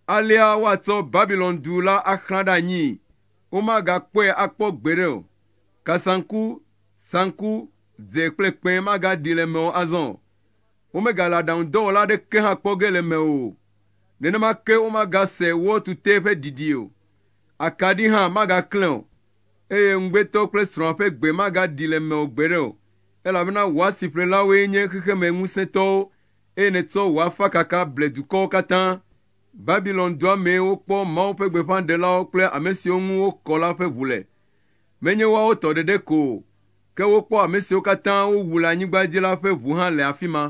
[SPEAKER 1] Alea woatsɔ Babilon-du la axlã ɖe anyii, womagakpɔe akpɔ gbeɖe o. Kasaŋku, saŋku, dzẽ kple kpẽ magaɖi le eme o azɔ o. Womegale aɖaŋudɔwɔla aɖeke hã kpɔ ge le eme o. Nenema ke womagase wɔ tutee ƒe ɖiɖi o. Akaɖi hã magaklẽ o, eye ŋugbetɔ kple srɔ̃a ƒe gbe magaɖi le eme o gbeɖe o, elabena wò asiƒlelawoe nye xexeme ŋusẽtɔwo, eye nètsɔ wò afakaka ble dukɔwo katã. Babilon dua mee wokpɔ Mawu ƒe gbeƒãɖelawo kple ame siwo ŋu wokɔ la ƒe ʋu le. Menye woawo tɔ ɖeɖe ko o, ke wokpɔ ame siwo katã wowu le anyigba dzi la ƒe ʋu hã le afi ma.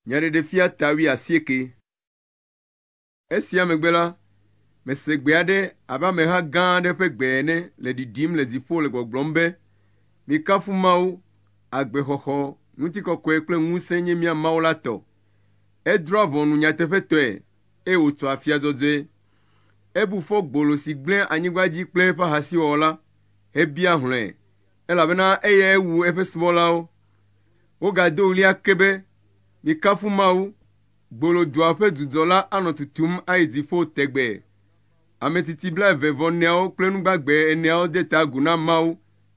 [SPEAKER 1] Nyaɖeɖefia ta wuiasieke. Esia megbe la, mese gbe aɖe abe ameha gã aɖe ƒe gbe ene le ɖiɖim le dziƒo le gbɔgblɔm be, Mikafu Mawu, agbexɔxɔ, ŋutikɔkɔe kple ŋusẽ nye mía Mawu la tɔ. Edrɔ̃a ʋɔnu nyateƒetɔe, eye wòtsɔ afia dzɔdzɔe. Ebu fɔ gbolo si gblẽ anyigba dzi kple eƒe ahasiwɔwɔ la hebia hlɔ̃e, elabena eyae wu eƒe subɔlawo. Wogado ɣli ake be, Mikafu Mawu! Gbolodua ƒe dudɔ la anɔ tutum ayi dziƒo tegbee. Ame tsitsi blaeve vɔ neawo kple nu gbagbe eneawo de ta agu na Mawu,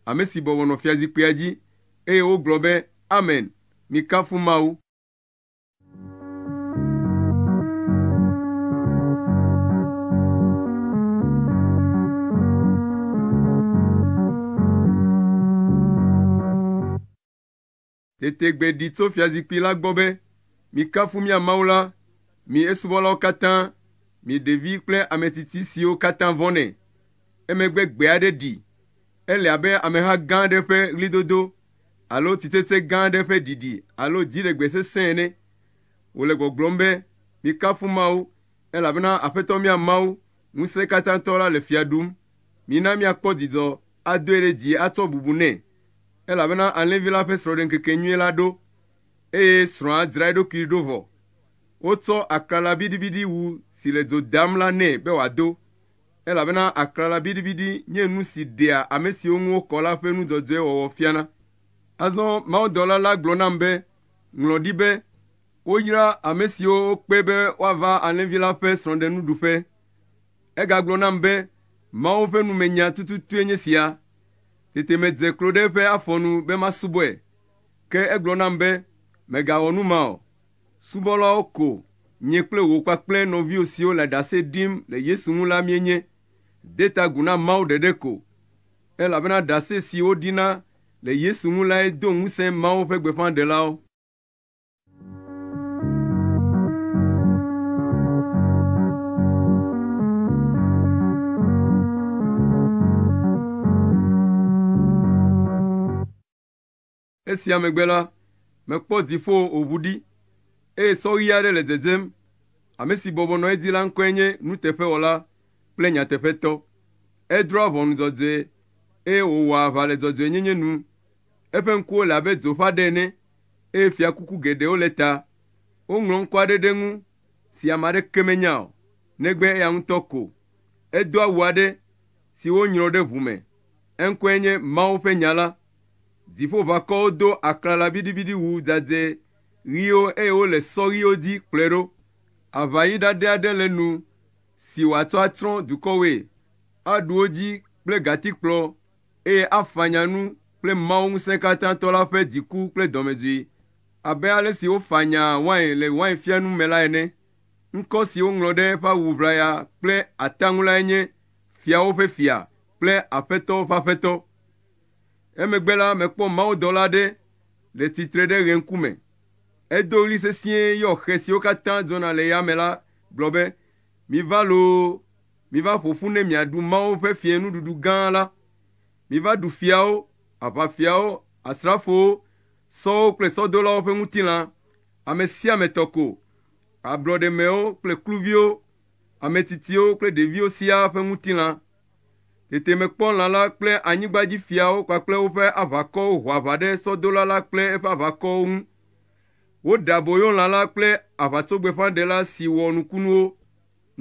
[SPEAKER 1] ame si bɔbɔ nɔ fiazikpuia dzi, eye wogblɔ be, Amen! Mikafu Mawu! Tete gbe ɖi tso fiazikpui la gbɔ be, Mikafu mía Mawu la, mi esubɔlawo katã, mi ɖevi kple ametsitsi siwo katã vɔ̃nɛ. Emegbe gbe aɖe ɖi. Ele abe ameha gã aɖe ƒe ɣlidodo alo tsitsetse gã aɖe ƒe ɖiɖi alo dziɖegbe sesẽ ene. Wòle gbɔgblɔm be, Mikafu Mawu, elabena Aƒetɔ mía Mawu, Ŋusẽkatãtɔ la le fia ɖum. Mina míakpɔ dzidzɔ adoe ɖe dzi atsɔ bubu nɛ, elabena alẽvi la ƒe srɔ̃ɖeŋkekenyui la ɖo, eye srɔ̃a dzra eɖokui ɖo vɔ. Wotsɔ aklala biɖibiɖi wu si le dzo dam la nɛ be wòado, elabena aklala biɖibiɖi nye nu si ɖea ame siwo ŋu wokɔ la ƒe nu dzɔdzɔe wɔwɔ fiana. Azɔ mawudɔla la gblɔ nam be, Ŋlɔ ɖi be, Woyra ame siwo wokpe be woava alẽvi la ƒe srɔ̃ɖenuɖuƒe. Egagblɔ nam be, Mawu ƒe numenya tututue nye sia. Tete medze klo ɖe eƒe afɔ nu be masubɔe. Ke egblɔ nam be, Mègawɔ nu ma o. Subɔlawo ko nye kple wò kpakple nɔviwò siwo le ɖase ɖim le Yesu ŋu la míenye. De ta agu na Mawu ɖeɖe ko, elabena ɖase si woɖina le Yesu ŋu lae do ŋusẽ Mawu ƒe gbeƒãɖelawo. Esia megbe la, mekpɔ dziƒo wòʋu ɖi, eye sɔɣi aɖe le dzedzem. Ame si bɔbɔ nɔ edzi la ŋkɔe nye nuteƒewɔla kple nyateƒetɔ. Edrɔ̃a ʋɔnu dzɔdzɔe, eye wòwɔa aʋa le dzɔdzɔenyenye nu. Eƒe ŋkuwo le abe dzo ƒe aɖe ene, eye fiakuku geɖewo le ta. Woŋlɔ ŋkɔ aɖe ɖe eŋu si ame aɖeke menya o, negbe eya ŋutɔ ko. Edo awu aɖe si wonyrɔ ɖe ʋu me. Eŋkɔe nye Mawu ƒe Nya la. Dziƒoʋakɔwo do aklala biɖibiɖiwu dzadzɛ ɣiwo eye wole sɔ ɣiwo dzi kplɔe ɖo. Aʋaɣi ɖaɖɛ aɖe le nu si wòatsɔ atsrɔ̃ dukɔwoe. Aɖu wo dzi kple gatikplɔ. eye afanya nu kple Mawu Ŋusẽkatãtɔ la ƒe dziku kple dɔmedzoe, abe ale si wofanyaa wain le wainfianu me la ene. Ŋkɔ si woŋlɔ ɖe eƒe awu ʋlaya kple ata ŋu lae nye Fiawo ƒe Fia kple Aƒetɔwo ƒe Aƒetɔ. Emegbe la, mekpɔ mawudɔla aɖe le tsitre ɖe ɣe ŋkume. Edo ɣli sesĩe yɔ xe siwo katã dzɔna le yame la gblɔ be, Miva loo, Miva ƒo ƒu ne miaɖu Mawu ƒe fiẽnuɖuɖu gã la. Miva ɖu fiawo, aʋafiawo, asrafowo, sɔwo kple sɔdolawo ƒe ŋutilã, ame sia ame tɔ ko, ablɔɖemewo kple kluviwo, ametsitsiwo kple ɖeviwo siaa ƒe ŋutilã. Tete mekpɔ lã la kple anyigbadzifiawo kpakple woƒe aʋakɔwo ho aʋa ɖe sɔdola la kple eƒe aʋakɔwo ŋu. Woɖe aboyo lã la kple aʋatsogbeƒãɖela si wɔ nukunuwo.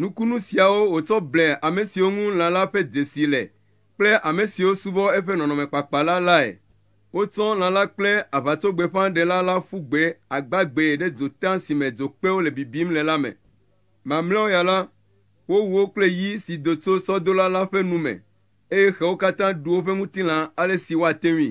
[SPEAKER 1] Nukunu siawo wòtsɔ ble ame siwo ŋu lã la ƒe dzesi le kple ame siwo subɔ eƒe nɔnɔmekpakpa la lae. Wotsɔ lã la kple aʋatsogbeƒãɖela la ƒu gbe agbagbee ɖe dzota si me dzokpewo le bibim le la me. Mamlɛawo ya la, wowu wo kple yi si do tso sɔdola la ƒe nu me, eye xewo katã ɖu woƒe ŋutilã ale si woate ŋui.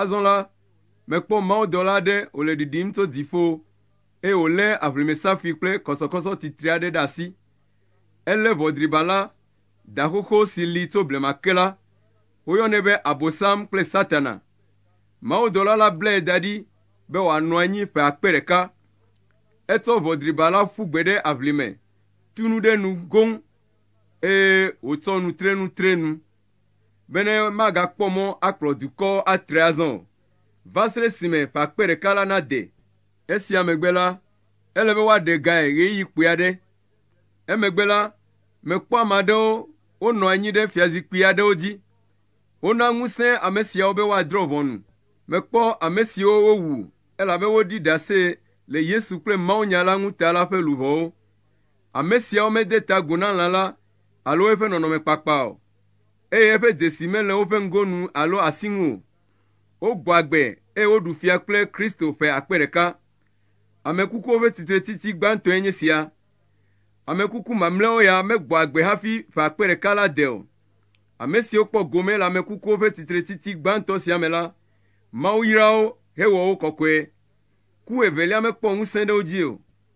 [SPEAKER 1] Azɔ la, mekpɔ mawudɔla aɖe wòle ɖiɖim tso dziƒo, eye wòlé aʋlimesafi kple kɔsɔkɔsɔ titri aɖe ɖe asi. Elé ʋɔdriba la, da xoxo si li tso blema ke la. Woyɔnɛ be Abosam kple Satana. Mawudɔla la blae da ɖi be wòanɔ anyi ƒe akpe ɖeka. Etsɔ ʋɔdriba la ƒu gbe ɖe aʋlime, tu nu ɖe nu goŋ, eye wòtsɔ nu tre nu tre nu. bene magakpɔ mɔ akplɔ dukɔ atre azɔ o, va se ɖe esime ƒe akpe ɖeka la nade. Esia megbe la, ele be woaɖe gae ɣeyiɣi kpui aɖe. Emegbe la, mekpɔ ame aɖewo wonɔ anyi ɖe fiazikpui aɖewo dzi. Wona ŋusẽ ame siawo be woadrɔ̃ ʋɔnu. Mekpɔ ame siwo wowu elabe woɖi ɖase le Yesu kple mawunya la ŋuta la ƒe luʋɔwo. Ame siawo mede ta agu na lã la alo eƒe nɔnɔmekpakpa o, eye eƒe dzesi mele woƒe ŋgonu alo asi ŋu o. Wogbɔ agbe eye woɖu fia kple Kristo ƒe akpe ɖeka. Ame kukuwo ƒe tsitretiti gbãtɔe nye sia. Ame kuku mamlɛawo ya megbɔ agbe hafi ƒe akpe ɖeka la de o. Ame siwo kpɔ gome le ame kukuwo ƒe tsitretiti gbãtɔ sia me la, Mawu yra wo hewɔ wo kɔkɔe. Ku evelia mekpɔ ŋusẽ ɖe wo dzi o.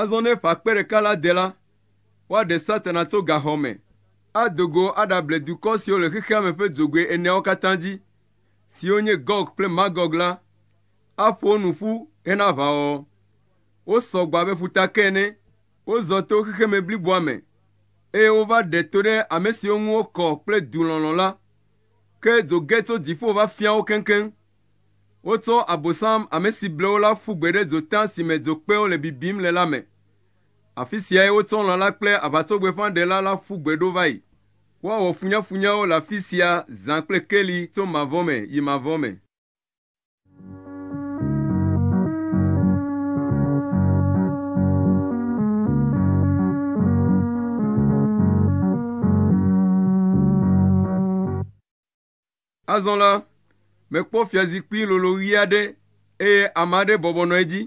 [SPEAKER 1] Azɔ ne ƒe akpe ɖeka la de la, woaɖe Satana tso gaxɔ me, ado go aɖable dukɔ siwo le xexea me ƒe dzogoe eneawo katã dzi, siwo nye Gɔg kple Magɔg la, aƒo wo nu ƒu hena aʋawɔwɔ. Wosɔ gbɔ abe ƒuta ke ene, wozɔ to xexeme bliboa me, eye wova ɖe to ɖe ame siwo ŋu wokɔ kple du lɔlɔ̃ la, ke dzo ge tso dziƒo va fia wo keŋkeŋ. Wotsɔ Abosam ame si ble wo la ƒu gbe ɖe dzota si me dzokpewo le bibim le la me. Afi siae wotsɔ lã la kple aʋatsogbefãɖela la ƒu gbe ɖo va yi. Woawɔ funyafunyawo le afi sia zã kple keli tso mavɔ me yi mavɔ me. Azɔ la, mekpɔ fiazikpui lolo ɣi aɖe, eye ame aɖe bɔbɔ nɔ edzi.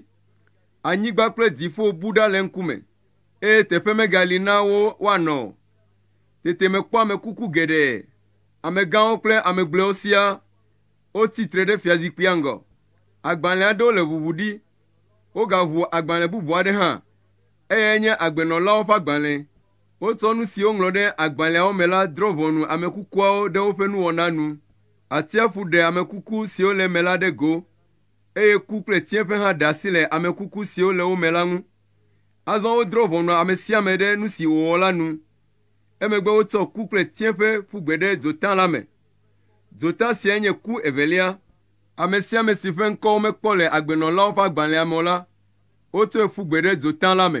[SPEAKER 1] Anyigba kple dziƒo bu ɖa le eŋkume, eye teƒe megali na wo woanɔ o. Tete mekpɔ ame kuku geɖe, amegãwo kple ame gblɔewo siaa, wotsi tre ɖe fiazikpuia ŋgɔ. Agbalẽ aɖewo le ʋuʋu ɖi. Wogaʋu agbalẽ bubu aɖe hã, eye enye agbenɔlawo ƒe agbalẽ. Wotsɔ nu si woŋlɔ ɖe agbalẽawo me la drɔ̃ ʋɔnu ame kukuawo ɖe woƒe nuwɔna nu. Atsiaƒu ɖe ame kuku siwo le eme la ɖe go, eye ku kple tsiẽƒe hã ɖe asi le ame kuku siwo le wo me la ŋu. Azɔ wodrɔ̃ ʋɔnu ame sia ame ɖe nu si wòwɔ la nu. Emegbe wotsɔ ku kple tsiẽƒe ƒu gbe ɖe dzota la me. Dzota siae nye ku evelia. Ame sia ame si ƒe ŋkɔ womekpɔ le agbenɔlawo ƒe agbalẽa me o la, wotsɔe ƒu gbe ɖe dzota la me.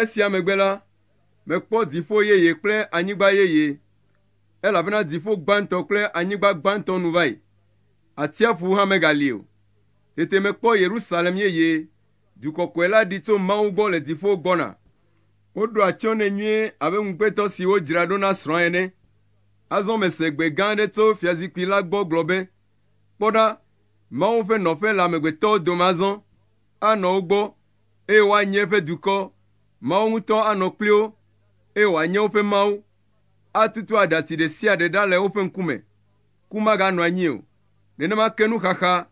[SPEAKER 1] Esia megbe la, mekpɔ dziƒo yeye kple anyigba yeye, elabena dziƒo gbãtɔ kple anyigba gbãtɔ nu va yi, atsiaƒu hã megali o. Tete mekpɔ Yerusalem yeye, du kɔkɔe la ɖi tso Mawu gbɔ le dziƒo gbɔna. Woɖo atsyɔ̃ nɛ nyuie abe ŋugbetɔ si wodzra ɖo na srɔ̃a ene. Azɔ mese gbe gã aɖe tso fiazikpui la gbɔ gblɔ be, “Kpɔ ɖa, Mawu ƒe nɔƒe le amegbetɔwo dome azɔ, anɔ wo gbɔ, eye woanye eƒe dukɔ. Mawu ŋutɔ anɔ kpli wo, eye wòanye woƒe Mawu. Atutu aɖatsi ɖe sia ɖe ɖa le woƒe ŋkume. Ku maganɔ anyi o. Nenema ke nuxaxa,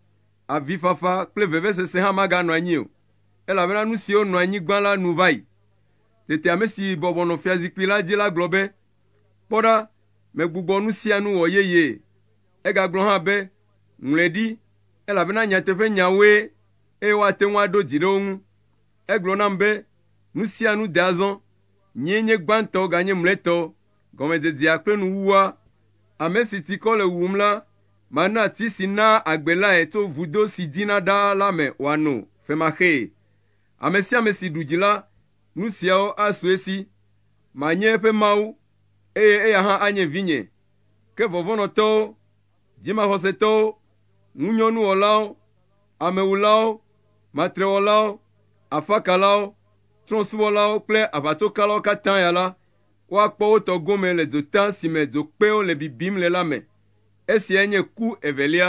[SPEAKER 1] avifafa kple vevesese hã maganɔ anyi o, elabena nu siwo nɔ anyi gbã la nu va yi. Tete ame si bɔbɔ nɔ fiazikpui la dzi la gblɔ be, Kpɔ ɖa, megbugbɔ nu sia nu wɔ yeyee. Egagblɔ hã be, Ŋlɔe ɖi, elabena nyateƒenyawoe eye woate ŋu aɖo dzi ɖe wo ŋu. Egblɔ nam be, Nu sia nu de azɔ, nyee nye gbãtɔ ganye mlɔetɔ, gɔmedzedzea kple nuwuwua. Ame si tikɔ le wuwum la, mana ti si naa agbe lae tso vudo si dzina ɖaa la me wòano femaxee. Ame sia ame si ɖu dzi la, nu siawo asu esi. Manye eƒe Mawu, eye eya hã anye vinye. Ke vɔvɔ̃nɔtɔwo, Dzimaxɔsetɔwo, ŋunyɔnuwɔlawo, amewulawo, matrewɔlawo, afakalawo, trɔ̃subɔlawo kple aʋatsokalawo katã ya la, woakpɔ wo tɔ gome le dzota si me dzokpewo le bibim le la me. Esiae nye ku evelia.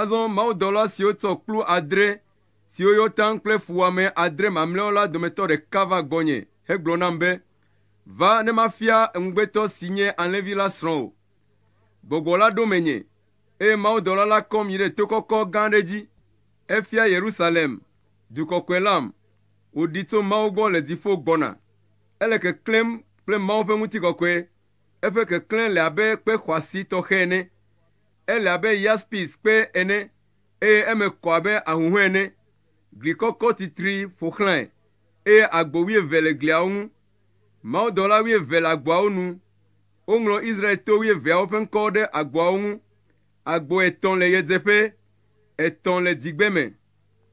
[SPEAKER 1] Azɔ mawudɔla siwo tsɔ kplu adre siwo yɔ taŋ kple fuwɔame adre mamlɛawo la dometɔ ɖeka va gbɔnye hegblɔ nam be, “Va ne mafia eŋugbetɔ si nye alẽvi la srɔ̃ wò.” Gbɔgbɔ la ɖo menye, eye mawudɔla la kɔm yi ɖe to kɔkɔ gã aɖe dzi. Efia Yerusalem, du kɔkɔe lam, wòɖi tso Mawu gbɔ le dziƒo gbɔna. Ele keklẽm kple Mawu ƒe ŋutikɔkɔe, eƒe keklẽ le abe kpe xɔasi tɔxɛ ene. Ele abe yaspis kpe ene, eye eme kɔ abe ahuhɔ̃e ene. Gli kɔkɔ titri ƒo xlãe, eye agbo wuieve le gliawo ŋu. Mawudɔla wuieve le agboawo nu. Woŋlɔ Israel to wuieveawo ƒe ŋkɔwo ɖe agboawo ŋu. Agbo etɔ̃ le ɣedzeƒe, etɔ̃ le dzigbeme,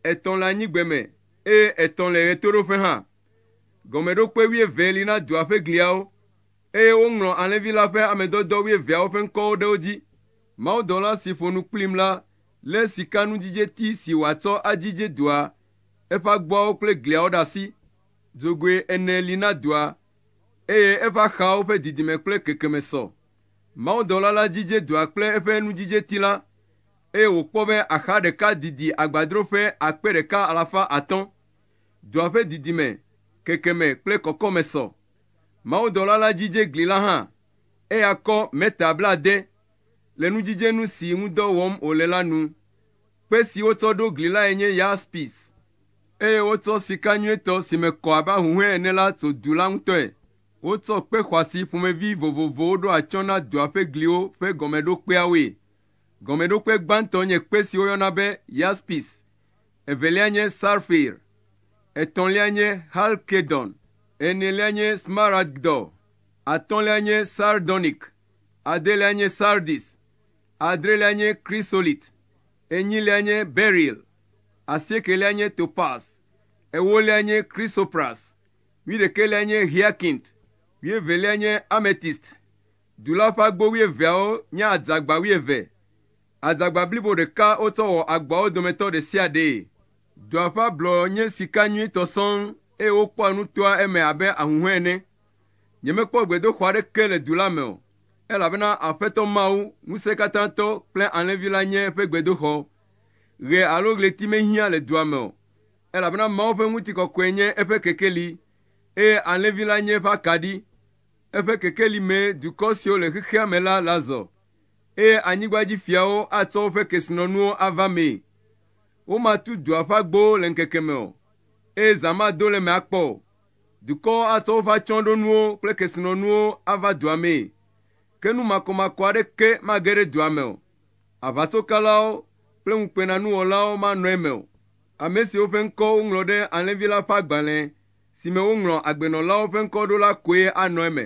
[SPEAKER 1] etɔ̃ le anyigbeme, eye etɔ̃ le ɣetoɖoƒe hã. Gɔmeɖokpe wuieve li na dua ƒe gliawo. Eye woŋlɔ alẽvi la ƒe ame dɔdɔ wuieveawo ƒe ŋkɔwo ɖe wo dzi. Mawudɔla si ƒo nu kplim la lé sikanudzidzeti si wòatsɔ adzidze dua, eƒe agboawo kple gliawo ɖe asi. Dzogoe ene li na dua, eye eƒe axawo ƒe didime kple kekeme sɔ. Mawudɔla la dzidze dua kple eƒe nudzidzeti la, eye wòkpɔ be axa ɖeka didi agbadro ƒe akpe ɖeka alafa atɔ̃. Dua ƒe didime, kekeme kple kɔkɔme sɔ. Mawudɔla la dzidze gli la hã. Eya kɔ mita blaade le nudzidzenu si ŋu dɔ wɔm wòle la nu. Kpe si wotsɔ ɖo gli lae nye yaspis, eye wotsɔ sika nyuitɔ si me kɔ abe ahuhɔ̃e ene la tso du la ŋutɔe. Wotsɔ kpe xɔasi ƒomevi vovovowo ɖo atsyɔ̃ na dua ƒe gliwo ƒe gɔmeɖokpeawoe. Gɔmeɖokpe gbãtɔ nye kpe si woyɔna be yaspis. evelia nye sarfir, etɔ̃lia nye halkedon, enelia nye smaragdɔ, atɔ̃lia nye sardonik, adelia nye sardis, adrelia nye krisolit, enyilia nye beril, asiekelia nye topas, ewolia nye krisopras, wuiɖekɛlia nye hiakint, wuievelia nye ametist. Du la ƒe agbo wuieveawo nye adzagba wuieve, Adzagba blibo ɖeka wotsɔ wɔ agbawo dometɔ ɖe sia ɖee. Dua ƒe ablɔ nye sika nyuitɔ sɔŋ, eye wokpɔa nu toa eme abe ahuhɔ̃e ene. Nyemekpɔ gbedoxɔ aɖeke le du la me o, elabena Aƒetɔ Mawu, Ŋusẽkatãtɔ kple Alẽvi la nye eƒe gbedoxɔ. Ɣe alo ɣleti mehiã le dua me o, elabena Mawu ƒe ŋutikɔkɔe nye eƒe kekeli, eye Alẽvi la nye eƒe akaɖi. Eƒe kekeli mee dukɔ siwo le xexea me la le azɔ. eye anyigbadzifiawo atsɔ woƒe kesinɔnuwo ava mee. Womatu dua ƒe agbowo le ŋkeke me o, eye zã mado le eme akpɔ o. Dukɔwo atsɔ woƒe atsyɔ̃ɖonuwo kple kesinɔnuwo ava dua mee, ke nu makɔmakɔ aɖeke mage ɖe dua me o. Aʋatsokalawo kple ŋukpenanuwɔlawo manɔ eme o, ame siwo ƒe ŋkɔ woŋlɔ ɖe Alẽvi la ƒe agbalẽ si me woŋlɔ agbenɔlawo ƒe ŋkɔ ɖo la koe anɔ eme.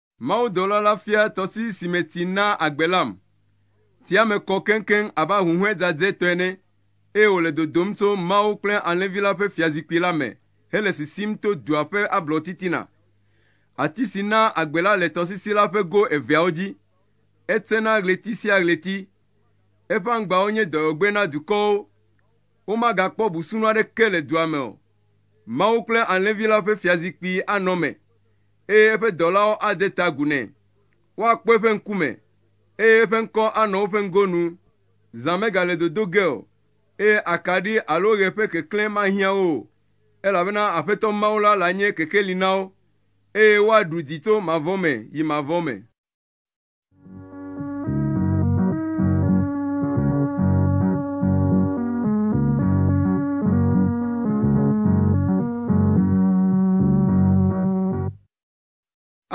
[SPEAKER 1] Mawudɔla la fia tɔsisi si me tsi naa agbe lam. Tsia me kɔ keŋkeŋ abe ahuhɔ̃e dzadzɛ tɔ ene, eye wòle dodom tso Mawu kple Alẽvi la ƒe fiazikpui la me hele sisim to dua ƒe ablɔtitina. Ati si naa agbe la le tɔsisi la ƒe go eveawo dzi. Etsena ɣleti sia ɣleti. Eƒe aŋgbawo nye dɔyɔgbe na dukɔwo. Womagakpɔ busunu aɖeke le dua me o. Mawu kple Alẽvi la ƒe fiazikpui anɔ eme. eye eƒe dɔlawo ade ta agu nɛ. Woakpɔ eƒe ŋkume, eye eƒe ŋkɔ anɔ woƒe ŋgonu. Zã megale dodo ge o, eye akaɖi alo ɣe ƒe keklẽ mahiã wo o, elabena Aƒetɔ Mawu la lae nye kekeli na wo, eye woaɖu dzi tso mavɔ me yi mavɔ me.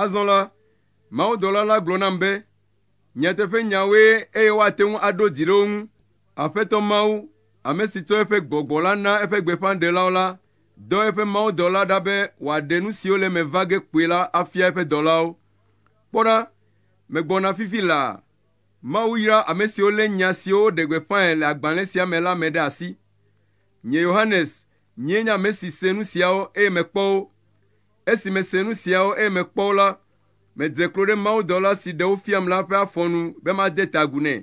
[SPEAKER 1] Azɔ la, mawudɔla la gblɔ nam be, nyateƒe nyawoe eye woate ŋu aɖo dzi ɖe wo ŋu. Aƒetɔ Mawu, ame si tsɔ eƒe gbɔgbɔ la na eƒe gbeƒãɖelawo la, dɔ eƒe mawudɔla ɖa be wòaɖe nu siwo le eme va ge kpuie la afia eƒe dɔlawo. Kpɔ ɖa, megbɔna fifi laa. Mawu yra ame siwo lé nya siwo woɖe gbeƒãe le agbalẽ sia me la me ɖe asi. Nye Yohanes nyee nye ame si se nu siawo eye mekpɔ wo. Esi mese nu siawo eye mekpɔ wo la, medze klo ɖe mawudɔla si ɖe wo fiam la ƒe afɔ nu be made ta agu nɛ.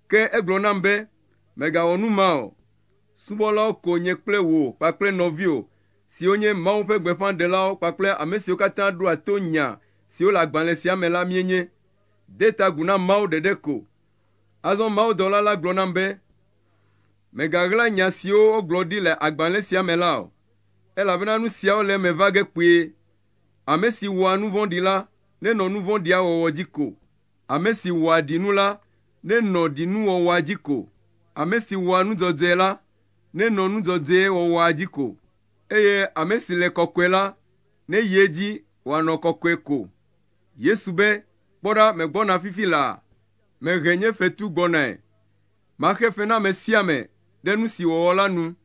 [SPEAKER 1] Ke egblɔ nam be, “Mègawɔ nu ma o. Subɔlawo ko nye kple wò kpakple nɔviwò siwo nye Mawu ƒe gbeƒãɖelawo kpakple ame siwo katã ɖoa to nya siwo le agbalẽ sia me la míenye. De ta agu na Mawu ɖeɖe ko. Azɔ mawudɔla la gblɔ nam be, Mègaɣla nya siwo wogblɔ ɖi le agbalẽ sia me la o, elabena nu siawo le eme va ge kpuie. Ame si wɔa nu vɔ̃ɖi la nenɔ nu vɔ̃ɖia wɔwɔ dzi ko, ame si wɔa ɖinu la nenɔ ɖinuwɔwɔa dzi ko, ame si wɔa nu dzɔdzɔe la nenɔ nu dzɔdzɔe wɔwɔa dzi ko, eye ame si le kɔkɔe la neyi edzi wòanɔ kɔkɔe ko. Yesu be, Kpɔ ɖa, megbɔna fifi laa, mehe nye fetu gbɔnae. Maxe fe na ame sia ame ɖe nu si wòwɔ la nu.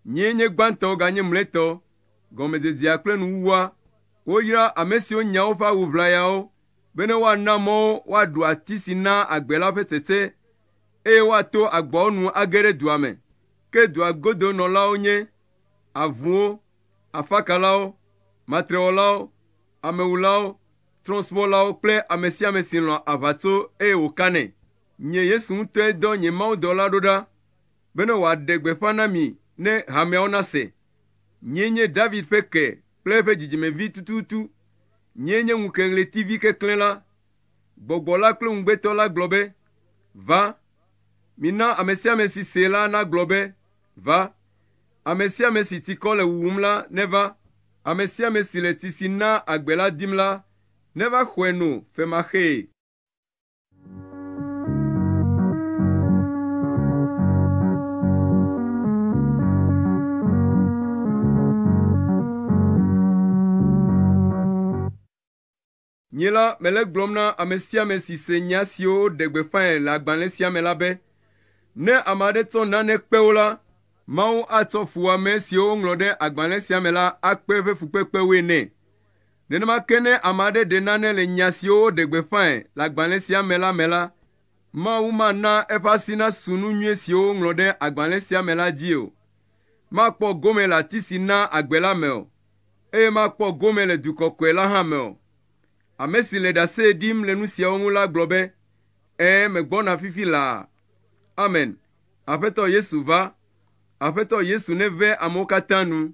[SPEAKER 1] Nyee nye gbãtɔ ganye mlɔetɔ, gɔmedzedzea kple nuwuwua. Woyra ame siwo nya woƒe awu ʋlayawo bene woana mɔ wo woaɖu ati si naa agbe la ƒe tsetse eye woato agboawo nu age ɖe dua me. Ke dua godo nɔlawo nye avuwo, afakalawo, matrewɔlawo, amewulawo, trɔ̃subɔlawo kple ame sia ame si lɔ̃a aʋatso eye wòkanɛ. Nye Yesu ŋutɔe dɔ nye mawudɔla ɖo ɖa bene wòaɖe gbeƒã na mi ne hameawo nase. Nyee nye David ƒe ke kple eƒe dzidzimevi tututu. Nyee nye ŋukeɣletivi keklẽ la. Gbɔgbɔ la kple ŋugbetɔ la gblɔ be, Va! Mina ame sia ame si see la nagblɔ be, Va! Ame sia ame si tsikɔ le wuwum la, neva. Ame sia ame si le tsi si naa agbe la dim la, neva xɔe no femaxee. Nye la, mele gblɔm na ame sia ame si se nya siwo woɖe gbeƒãe le agbalẽ sia me la be, ne ame aɖe tsɔ nane kpe wo la, Mawu atsɔ fuwɔame siwo woŋlɔ ɖe agbalẽ sia me la akpe eƒe fukpekpewoe nɛ. Nenema ke ne ame aɖe ɖe nane le nya siwo woɖe gbeƒãe le agbalẽ sia me la me la, Mawu mana eƒe asi nasu nu nyui siwo woŋlɔ ɖe agbalẽ sia me la dzi o. Makpɔ gome le ati si naa agbe la me o. eye makpɔ gome le du kɔkɔe la hã me o. Ame si le ɖase ɖim le nu siawo ŋu la gblɔ be, Ɛ̃, megbɔna fifi laa. Amen. Aƒetɔ Yesu va. Aƒetɔ Yesu neve amewo katã nu.